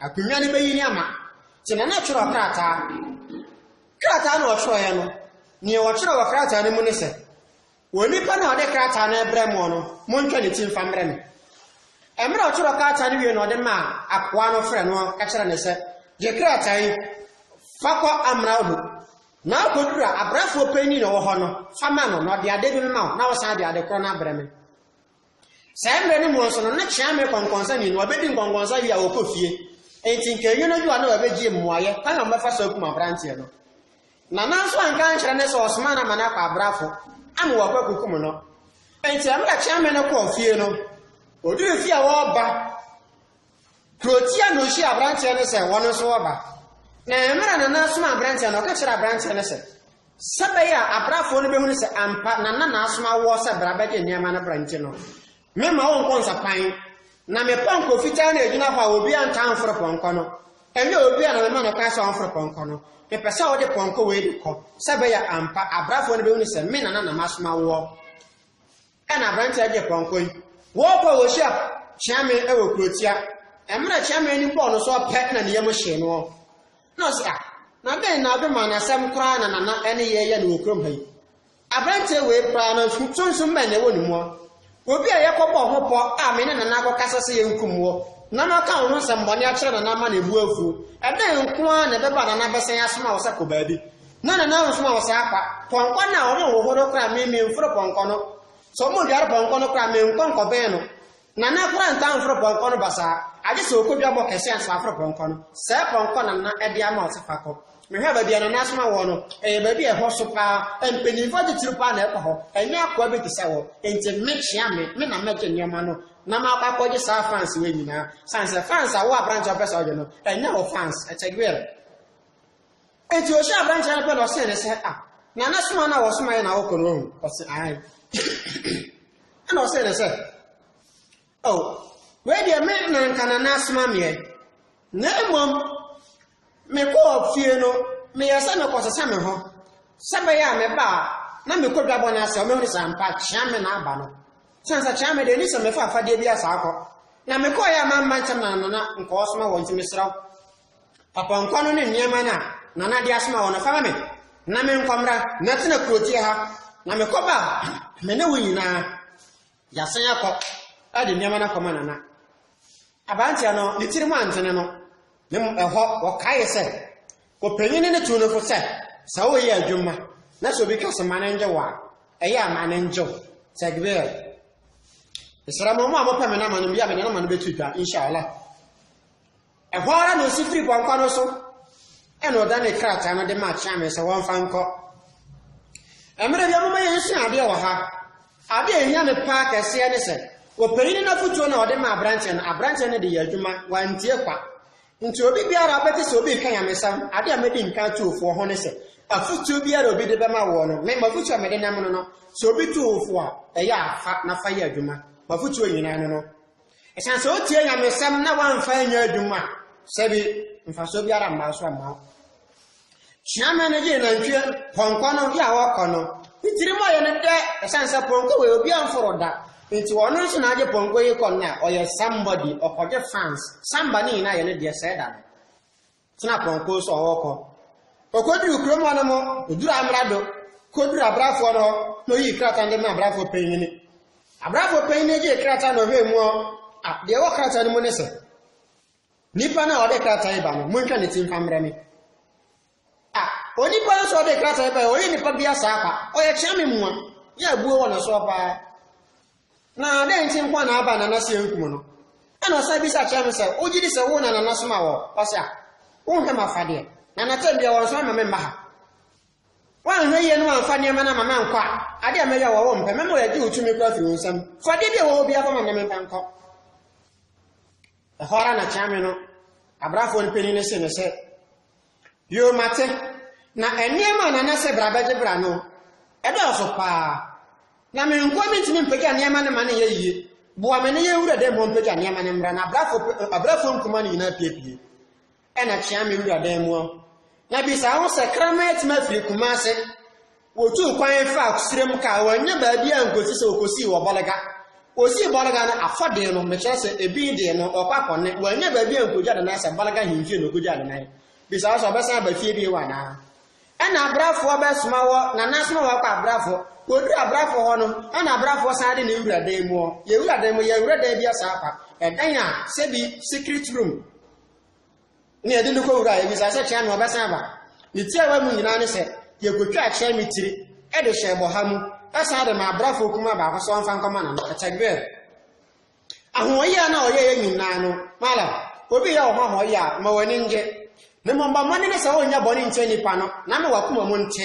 Akonnwa no bɛyi ne ama. Nti Nana twerɛɛ krataa. Krataa na ɔtwerɛeɛ no, neɛ ɔtwerɛ wɔ krataa no mu ne sɛ, onipa na ɔde krataa no ɛbrɛ mo no, montwa ne ti mfa mmerɛ me. Mmerɛ ɔtwerɛ krataa no wie na ɔde maa akoa no frɛ no ka kyerɛ ne sɛ, gye krataa yi, fa kɔ amena ho, Na okodur a, abrafoɔ panyin na ɔwɔ hɔ no, fa ma no, na ɔde ade bi bɛma wo, na wosan de ade koro no abrɛ me. Saa mmerɛ no mu nso no, na Kyeame kɔnkɔnsa nni, na wabɛdi nkɔnkɔnsa wie a, ɔkɔ fie. Enti nka ɛnyɛ n'adwuma na wabɛgye mmuaeɛ kwan a wɔbɛfa so akum aberanteɛ no. Nana nso anka ankyerɛ no sɛ ɔsoma no ama no akɔ abrafo ama wɔakɔ akukum no. Enti mmerɛ Kyeame no kɔɔ fie no, ɔduruu fie a ɔreba Dorotia na ohyiaa aberanteɛ no sɛ wɔn nso wɔba. Na mmerɛ a Nana asoma aberanteɛ no, ɔka kyerɛɛ aberanteɛ no sɛ, sɛ ɛbɛyɛ a abrafoɔ no bɛhunu sɛ ampa Nana na asoma woɔ sɛ bra bɛgye nneɛma no bra nti no, meremma wo nkɔ nsapan, na me pɔnkɔ fitaa na ɛgyina hɔ a obiara ntaa mforo pɔnkɔ no, ɛnyɛ obiara na mema no kwan sɛ ɔmforo pɔnkɔ no, mepɛ sɛ wode pɔnkɔ wei de kɔ, sɛ ɛbɛyɛ a ampa abrafoɔ no bɛhunu sɛ me Nana na masoma woɔ. Ɛna aberanteɛ agye pɔnkɔ yi wɔɔkɔ wɔ hyia kyeame wɔ kurotia ɛmmerɛ kyeame ni bɔɔ no so ɔpɛ na ne yam hyee noɔ na ɔsi a ah, na dɛn na ɔde maa n'asɛm koraa na nana ɛne yɛ yɛ no wɔ kurom ha yi aberanteɛ wei koraa no sunsum bɛn na ɛwɔ ne mua obi a yɛkɔ bɔ ho pɔ a me ne nana akɔ kasa sɛ yɛnkum wɔ na na ɔka ho nsɛm bɔne akyerɛ nana ama na ebu afuo ɛdɛn nko ara na ɛbɛba nana bɛsɛn asoma wɔ sɛ kɔ baabi Na na nanso wɔn saa kwa. Pɔnkɔ no a wɔn nhoho no koraa me, memforo pɔnkɔ no. Sɛ wɔn dware pɔnkɔ no koraa, menkɔ nkɔbɛn no. Nana koraa ntaa mforo pɔnkɔ no basaa, agye sɛ ɔkɔ dwabɔ kɛse ansa waforo pɔnkɔ no. Saa pɔnkɔ na Nana de ama ɔse fa kɔ. Mehwɛɛ baabi a Nana asoma wɔn no, ɛyɛ baabi a ɛhɔ so paa, mpanyimfoɔ atitiriw paa na ɛkɔ hɔ, ɛnyɛ akoa bi te sɛ wɔn. Enti me, kyea me, me na mɛgye nneɛma no na makɔ akɔgye saa fans wei nyinaa. Sane sɛ fans a wo aberante a wopɛ sɛ wogye no, ɛnyɛ wo fans. Ɛtɛgweɛre. Enti ɔhyiaa aberanteɛ no pɛ na ɔsee no sɛ, Ah, Nana, soma no a wɔsomaeɛ na wokɔ no ɔho? Ɔse, Aane. Ɛna ɔsee no sɛ, Oh, wei deɛ me na nka Nana asoma meɛ, na mmom mekɔɔ fie no meyɛɛ sɛ mekɔsesa me ho, sɛ ɛbɛyɛ a meba a na mekɔ dwabɔ no ase a wobɛhunu sɛ ampa Kyeame na aba no. Sane sɛ Kyeame deɛ ɛni sɛ mefa afadeɛ bi asa akɔ, na mekɔeɛ a mamma ntɛm na Nana nka ɔsoma wɔn nti mesrɛ wo, Apɔnkɔ no ne nneɛma no a Nana de asoma wɔn no, fa ma me, na menkɔ mmra. Mɛtena kurotia ha, na mekɔ ba a, me ne wo nyinaa, yɛasan akɔ de nneɛma no akɔma Nana. Aberanteɛ no, ne tirim antene no, na mmom ɛhɔ, wɔkaeɛ sɛ, Ɔpanyin no tuu no fo sɛ, sɛ woyɛ adwuma, na sɛ obi ka sɛ ma no ngye wo a, ɛyɛ a ma no ngye wo. Tɛgbɛɛ. Mesrɛ mo, mo a mopɛ me nama no, bia mede nama no bɛto dwa, inshallah. Ɛhɔ ara na osi firi pɔnkɔ no so, ɛna ɔdanee krataa no de maa Kyeame sɛ wɔmfa nkɔ. Mmerɛ bi ɔmoma yɛn sua adeɛ wɔ ha. Adeɛ a ɛhia me paa kɛseɛ ne sɛ, ɔpanyini no afotuo na ɔde maa aberanteɛ no, aberanteɛ no de yɛ adwuma, wantie kwa. Nti obi biara ɔbɛte sɛ obi reka nyamesɛm, adeɛ a mɛdi nka ato ofoɔ ho ne sɛ, afotuo biara obi de bɛma woɔ no, me mafotuo a mede nam no no, sɛ obi to wo fo a, ɛyɛ a fa na fa yɛ adwuma. Mafotuo nyinaa ne no. Esiane sɛ otiee nyamesɛm na wamfa anyɛ adwuma a, sɛ bi mfasoɔ biara mmaa so mmaa wo. Suamɛ no gyee nantwie pɔnkɔ no yɛ a wɔkɔ no ne tirim ayɛ no dɛ ɛsiane sɛ pɔnkɔ wei obi amforo da nti ɔno nso na agye pɔnkɔ yi kɔ no a ɔyɛ somebody ɔkɔgye fans samba ne nyinaa yɛ ne deɛ sɛɛ da no Tena prɔnko so a ɔɔkɔ. Okoduru kurom hɔ no mo, odur amrado, kodur abrafoɔ no hɔ, na oyii krataa no de maa abrafoɔ panyin no. Abrafoɔ panyin no gyee krataa na ɔhwɛɛ mu ɔ, a, deɛ ɛwɔ krataa no mu ne sɛ, Nipa no a ɔde krataa yi ba no, montwa ne ti mfa mmerɛ me. A, onipa no so ɔde krataa yi ba yɛ, ɔyɛ nipa bi asaa pa, ɔyɛ kyea me mua, ne abuo wɔ ne soɔ paa. Na dɛn nti nko a na Abba nanaso ankum no? Ɛnna ɔsan bisa kyerɛɛ no sɛ, Wogye di sɛ wo na nana somaa wo hɔ? Ɔse, Ah, wonhwɛ m'afadeɛ, na anatɛm biara wɔnsoma mma me mma ha. Woanhwɛ yie na woamfa nneɛma no amma me ankɔ a, ade a mɛyɛ wɔ wo mpɛ, mɛma wɔagye wo tumi koraa afiri wo nsam. Fa adeɛ bi a ɛwɔ hɔ biara kɔma me na memfa nkɔ. Ɛhɔ ara na Kyeame no abrafoɔ no panin no see no sɛ, Yoo mate, na nneɛma a Nana sɛ bra bɛgye bra no, ɛdɔɔso paa. Na me nko ara mentumi mpagya nneɛma no ma no nyɛ yie. Boa me ne yɛn wura dɛ mmɔ mpagya nneɛma no mmra na abrafo abrafo nkumaa no nyinaa apiepie. Ɛna kyea me wura dan mu hɔ, na bisa wo sɛ kraman atumi afiri Kumase Wɔtuu kwan faa Kusire mu kaa wɔannya baabiara ankɔsi sɛ wɔkɔsii wɔ Bɔlega. Wɔsii Bɔlega no afɔ dee no, mekyerɛ sɛ, ebin dee no, wɔkɔ akɔnne. Wɔannya baabi ankɔgya ne nan sɛ Bɔlega ahemfie na ɔkɔgyaa ne nan. Bisa wo sɛ ɔbɛsan aba fie bio anaa. Ɛnna abrafoɔ bɛsoma wɔ, Nana asoma wɔ akɔ abrafoɔ. Wɔduru abrafoɔ hɔ no, ɛnna abrafoɔ san de ne wura dan mu ɔ. Yɛwura dan mu, yɛanwura dan biara saa kwa. Ɛdan a, sɛbi, secret room. na yɛde no kɔwura a, ɛbisa sɛ kyerɛ me ɔbɛsan aba. Ne tiawa mu nyinaa ne sɛ, yɛkɔtwaa kyerɛ me tiri de hyɛɛ bɔha mu san de maa abrafo kumaa baako sɛ ɔmfa nkɔma no no. Takbir! Ahoɔyɛ a na ɔyɛ yɛ nyinaa no, malam, obi yɛ wo ho ahoɔyɛ a, ma w'ani ngye. Na mmom bɔ mmɔden sɛ wonyɛ bɔne ntia nnipa no, na ama w'akoma mu nte.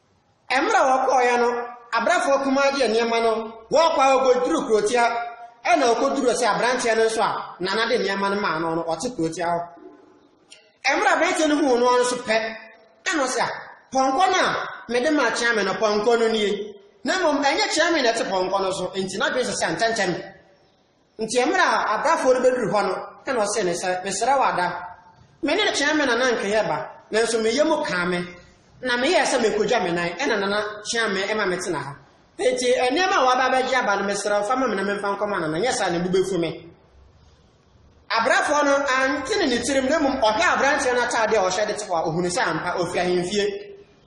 Mmerɛ wɔkɔɔeɛ no, abrɛfoɔ kumaa gyeɛ nneɛma no, wɔɔkɔ ara wɔkɔduruu kurotia, ɛna ɔkɔduruuɛ sɛ abranteɛ no nso a nana de nneɛma no maa no no ɔte kurotia hɔ. Mmerɛ abranteɛ no huu noɔ nso pɛ, ɛna ɔsɛ a, pɔnkɔ no a mede maa Kyeame no, pɔnkɔ no nie, na mmom ɛnyɛ Kyeame na ɛte pɔnkɔ no so, enti n'adwene sesa ntɛntɛm. Nti mmerɛ a abrafoɔ no bɛduru hɔ no, ɛna ɔsee no sɛ, Mesrɛ wo Adam, me ne Kyeame me nana nkeyɛ ba, nanso me yam kaa me, na me yɛɛ sɛ merekɔdwa me nan, ɛna nana Kyeame ma me tena ha. Enti nneɛma a woaba abɛgye aba no, mesrɛ wo fa ma me na memfa nkɔma nana, nyɛ saa a ne bo bɛfu me. Abrafoɔ no antene ne tirim, na mmom ɔhwɛɛ aberanteɛ no ataadeɛ a ɔhyɛ de te hɔ a, ɔhunuu sɛ ampa, ɔfiri ahemfie.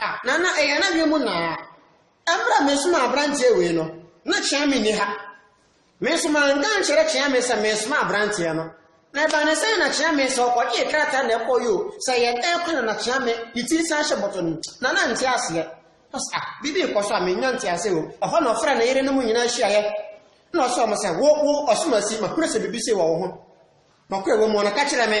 Ah, na na ɛyɛ n'adwene mu naa. Ɛberɛ a mesomaa aberanteɛ wei no, na Kyeame nni ha. Me nso manka ankyerɛ Kyeame sɛ meresoma aberanteɛ no. Na ɛbaa ne sɛn na Kyeame sɛ ɔkɔgyee krataa na ɛkɔɔ yoo, sɛ yɛn ɛrekɔ na na Kyeame ne ti san hyɛ bɔtɔ no mu, na na nte aseɛ. Ɔsɛ, ah, biribi rekɔ so a mennya nte aseɛ o. Ɛhɔ na ɔfrɛ ne yerenom nyinaa hyiaeɛ. Na ɔsɛ wɔn sɛ, wo, wo, Ɔsomasi, mahunu sɛ biribi sei wɔ wo ho. Nɔkorɛ wɔ mu, ɔno ka kyerɛ me.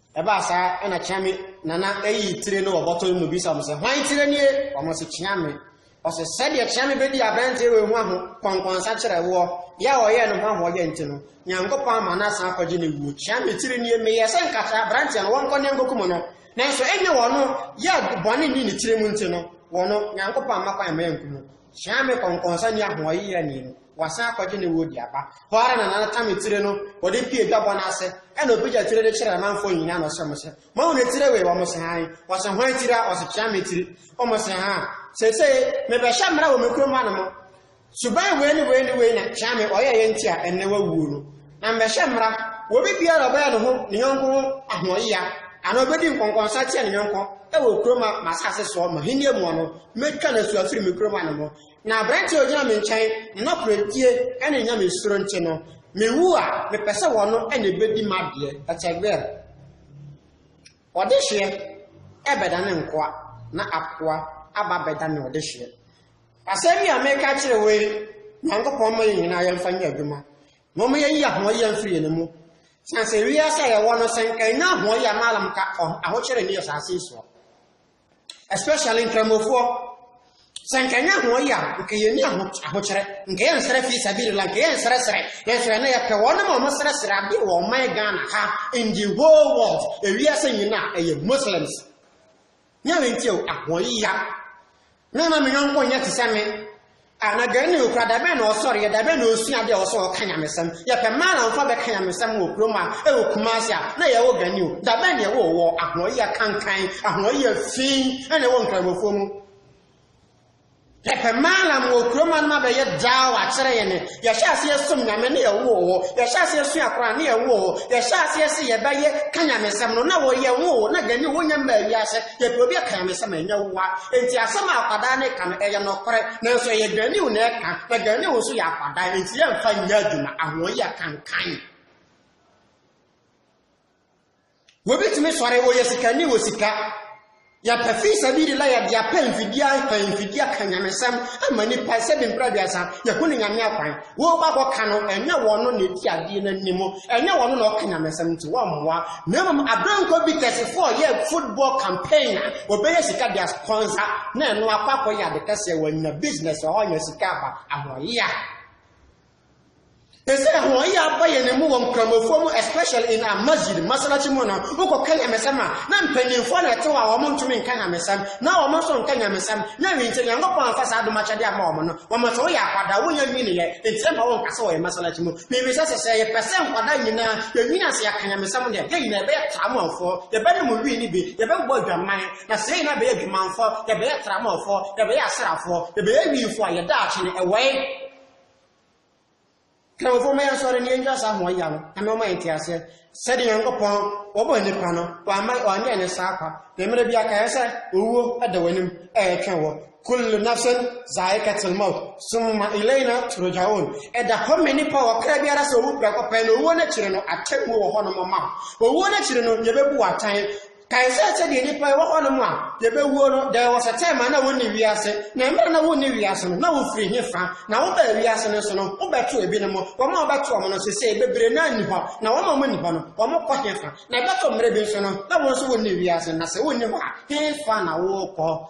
Ɛbaa saa ɛna Kyeame nana yii tire no wɔ bɔtɔ no mu bisaa wɔn sɛ, Hwan tire nie? Wɔn se, Kyeame. Ɔse, Sɛdeɛ Kyeame bɛdii aberanteɛ wei ho aho kɔnkɔnsa kyerɛ woɔ, yɛ a ɔyɛɛ ne ho ahoɔyɛ nti no, Nyankopɔn ama no asan akɔgye ne wuo. Kyeame tire nie, meyɛɛ sɛ nka kyerɛ aberanteɛ no wɔnkɔ na ɛnkɔkum no, nanso ɛnyɛ wɔn yɛ bɔne nnii ne tire mu nti no, wɔn, Nyankopɔn amma kwan amma yɛanku no. Hyia me kɔnkɔnsa ni ahoɔyeyani no, wasan akɔgye ne wɔ di aba. Hɔ ara na Nana Tami tire no, wɔde pue dwabɔ no ase, ɛna ɔpagya tire no kyerɛɛ amanfoɔ nyinaa na ɔsrɛ wɔn sɛ, Moahu ne tire wei? Wɔse, Hann. Ɔse, Hwan tire a? Ɔse, Kyame tire. Wɔse, Haa, seesei mebɛhyɛ mmara wɔ me kurom hanom. Suban wei ne wei ne wei na Kyame ɔyɛeɛ nti a ɛnnɛ wawuo no. Na mɛhyɛ mmara wɔ obibiara a ɔbɛyɛ ne ho ne yɔnko ho ahoɔyea, anaa ɔbɛdi nkɔnkɔnsa atia ne yɔnko wɔ kurom a m'asase soɔ m'ahennie mu no, mɛtwa no asuo afiri me kurom ano mu. Na aberanteɛ a ɔgyina me nkyɛn, ne nokorɛdie ne ne Nyame suro nti no, mewu a, mepɛ sɛ ɔno na ɛbɛdi m'adeɛ, Etzegbeer. Ɔdehyeɛ bɛdane nkoa, na akoa aba abɛdane ɔdehyeɛ. Asɛm yi a mereka akyerɛ wo yi, Nyankopɔn ma yɛn nyinaa yɛmfa nyɛ adwuma. Mom yɛyi ahoɔyea mfiri yɛn mu. Siane sɛ wiase a yɛwɔ no sɛ nka yɛnya ahoɔyea ma alam ka ahokyere ne asase yi soɔ. Especially nkramofoɔ. Sɛ nka yɛnya ahoɔyea nka yɛni ahokyere, nka yɛn nsrɛ fi sabiri la, nka yɛn nsrɛsrɛ, yɛn srɛ na yɛpɛ wɔn ma wɔn srɛsrɛ ade wɔ ɔman Ghana ha in the whole world, ewiase nyinaa ɛyɛ Muslims. Nyɛ wei nti o, ahoɔyi ya. Me ma me yɔnko nyɛ te sɛ me. A na gani no kura da bɛn na ɔsɔreɛ, da bɛn na ɔsua adeɛ a ɔwɔ sɛ ɔka nyamesɛm. Yɛpɛ mmaa na wɔfa bɛka nyamesɛm wɔ kurom a ɛwɔ Kumasi a na yɛwɔ gani o, da bɛn na ɛwɔ wɔ ahoɔyi ya kankan, ahoɔyi ya fi na ɛwɔ Nkramofoɔ mu. Yɛpɛ Maalam wɔ kurom anom abɛyɛ daa wɔ akyerɛ yɛn. Yɛhyɛ aseɛ som Nyame ne yɛwoo hɔ. Yɛhyɛ aseɛ sua Koran ne yɛwoo hɔ. Yɛhyɛ aseɛ se yɛbɛyɛ ka Nyamesɛm no na wɔ yɛwoo hɔ na dani wonya mmaa wiase. Yɛpɛ obi aka Nyamesɛm ɛnyɛ woa. Enti asɛm a akwadaa no reka no ɛyɛ nɔkorɛ nanso ɛyɛ dani wo na ɛka na dani wo nso yɛ akwadaa enti yɛmfa nyɛ adwuma. Ahoɔyia kankan. Obi tumi sɔre, ɔyɛ sikani wɔ sika. Yɛpɛ fi sabilila yɛde apɛ mfidie apɛ mfidie aka nyamesɛm ama nipa sɛ de mpira aduasa yɛhu ne nyame akwan. Wɔba kɔka no ɛnyɛ wɔn no na ɛdi adeɛ no anim, ɛnyɛ wɔn no na ɔka nyamesɛm nti wɔmmoa. Na mmom aberanko bi tɛsefo a ɔyɛ football campaign a ɔbɛyɛ sika de aspɔnsa na ɛno akɔ akɔyɛ ade kɛseɛ wɔanya business ɔhɔ nya sika aba ahoɔyea. Ɛsɛ ɛhoɔyɛ aba yɛn mu wɔ nkramofoɔ mu especially in a masjid masalakyi mu no wokɔka nyamesɛm a na mpanimfoɔ na ɛte hɔ a wɔn ntumi nka nyamesɛm na wɔn nso nka nyamesɛm na ɛwi nti Nyankopɔn amfa saa dom akyɛdeɛ ama wɔn no wɔn nso woyɛ akwadaa wonya nwiniɛ nti ɛma wɔn nka sɛ wɔyɛ masalakyi mu mebisa sɛ sɛ yɛpɛ sɛ nkwadaa nyinaa yɛnwini ase yɛka nyamesɛm deɛ yɛn nyinaa yɛbɛyɛ tramofoɔ yɛbɛnom wii no bi yɛbɛbɔ adwaman na sɛ yɛn nyinaa bɛyɛ adwamanfoɔ yɛbɛyɛ tramofoɔ yɛbɛyɛ asrafoɔ yɛbɛyɛ wiifoɔ a yɛda akye no ɛwɔe Kramofo ma yɛnsɔre na yentwa saa ahoa yia no, Nyame ɔma yɛn nteaseɛ. Sɛdeɛ Nyankopɔn wɔbɔ nnipa no, wamma wanyɛ no saa kwa, na mmerɛ biara kaeɛ sɛ, Owuo da w'anim ɛretwɛn wo. Kullu nafsin zaikatil mawt, summa ilaina turjaoon, Ɛda hɔ ma nnipa ɔkra biara sɛ owu prɛko pɛ, na owuo no akyire no, atemmuo wɔ hɔnom ma wo. Owuo no akyire no, yɛbɛbu wo atɛn. Kae sɛ sɛdeɛ nnipa a ɛwɔ hɔnom a yɛbɛwuo no, deɛ wɔhyɛ tɛm a na wɔnni wiase, na mmerɛ a na wonni wiase no, na wɔfiri he fa? Na wobaa wiase no so no, wobɛtoo ebinom, wɔn a wobɛto wɔn no, seesei bebree no ara nni hɔ, na wɔn a wɔnni hɔ no, wɔkɔ he fa? Na ɛbɛto mmerɛ bi nso no, na wo nso wonni wiase, na sɛ wonni hɔ a, he fa na worekɔ?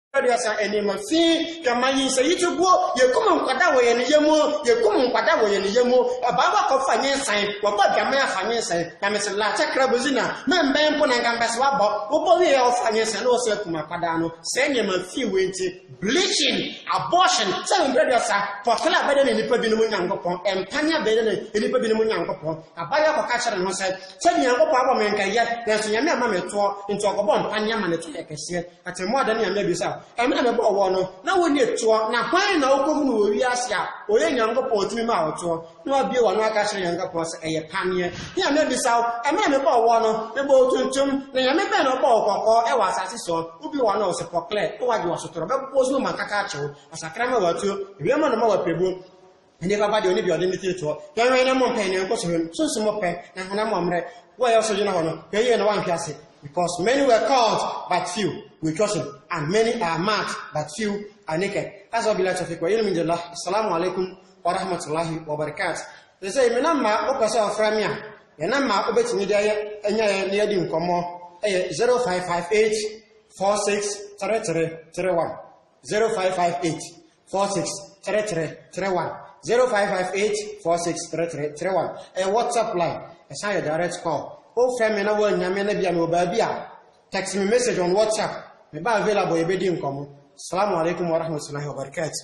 aduasa nneɛma fi yɛma yi sɛ yi ti guo yɛkum nkwada wɔ yɛn yɛ mu yɛkum nkwada wɔ yɛn yɛ mu ɛbaa wakɔ fa nye nsan wɔbɔ adwama yɛ afa nye nsan na mesi lakyɛ kra bozi na mɛmbɛn mpo na nka mbɛsi wabɔ wobɔ wie yɛ ɔfa nye nsan na wɔsɛ akum akwadaa no sɛ nneɛma fi wei nti bleaching abortion sɛ mbrɛ aduasa pɔtɔla abɛdɛ ne nipa binom nyankopɔn ɛmpane abɛdɛ ne nipa binom nyankopɔn abayɛ akɔka kyerɛ ne ho sɛ sɛ nyankopɔn abɔ me nkɛyɛ nanso nyame ama me toɔ nti ɔkɔbɔ mpane ama ne toɔ yɛ kɛseɛ Atemmuada ne Nyame Abiɛsa a emi na mebɔɔ wɔn no, na wonni toɔ, na hwan na ɔkɔhunuu wɔ wiase a ɔyɛ Nyankopɔn tumi maa wo toɔ, na wabue w'ano aka akyerɛ Nyankopɔn sɛ ɛyɛ paneɛ? Nyame Abiɛsa o, emi na mebɔɔ wɔn no, mebɔ wo tuntum, na Nyame bɛn na ɔbɔ wo kɔkɔɔ ɛwɔ asaase soɔ? Wobue w'ano ɔse pɔklɛ, na wagye w'asotorɔ, bɛbobɔ wo so ma mankaka akye wo, asakra ma w'atuo, ewiem anoma w'apirebuo, Nnipa ba deɛ ɔne deɛ ɔde ne tiri toɔ. Yɛnwɛn na mompɛ ne nkɔsohwɛ mu. Sunsun mo pɛ, na honam mo mmerɛ. Wo a ɛyɛ so gyina hɔ no, hwɛ yie na woanhwe ase. Because many were called, but few were chosen, and many are marked, but few are naked. Haza wa billahi tawfiq wa ilmu indallah. Assalamu alaikum wa rahmatullahi wa barakatuh. Sɛsɛ, me namba a wopɛ sɛ ɔfrɛ me a, yɛ namba a wobɛtumi de ayɛ anya yɛ na yɛadi nkɔmmɔ ɛyɛ 0558 463331 0558 four six three three three one zero five five eight four six three three three one ɛyɛ whatsapp line ɛsan yɛ direct call wofrɛ me na woannya me na bia mewɔ baabi a text me message on whatsapp meba available yɛbɛdi nkɔmmɔ salamu alaikum warahmatullahi wabarakatuh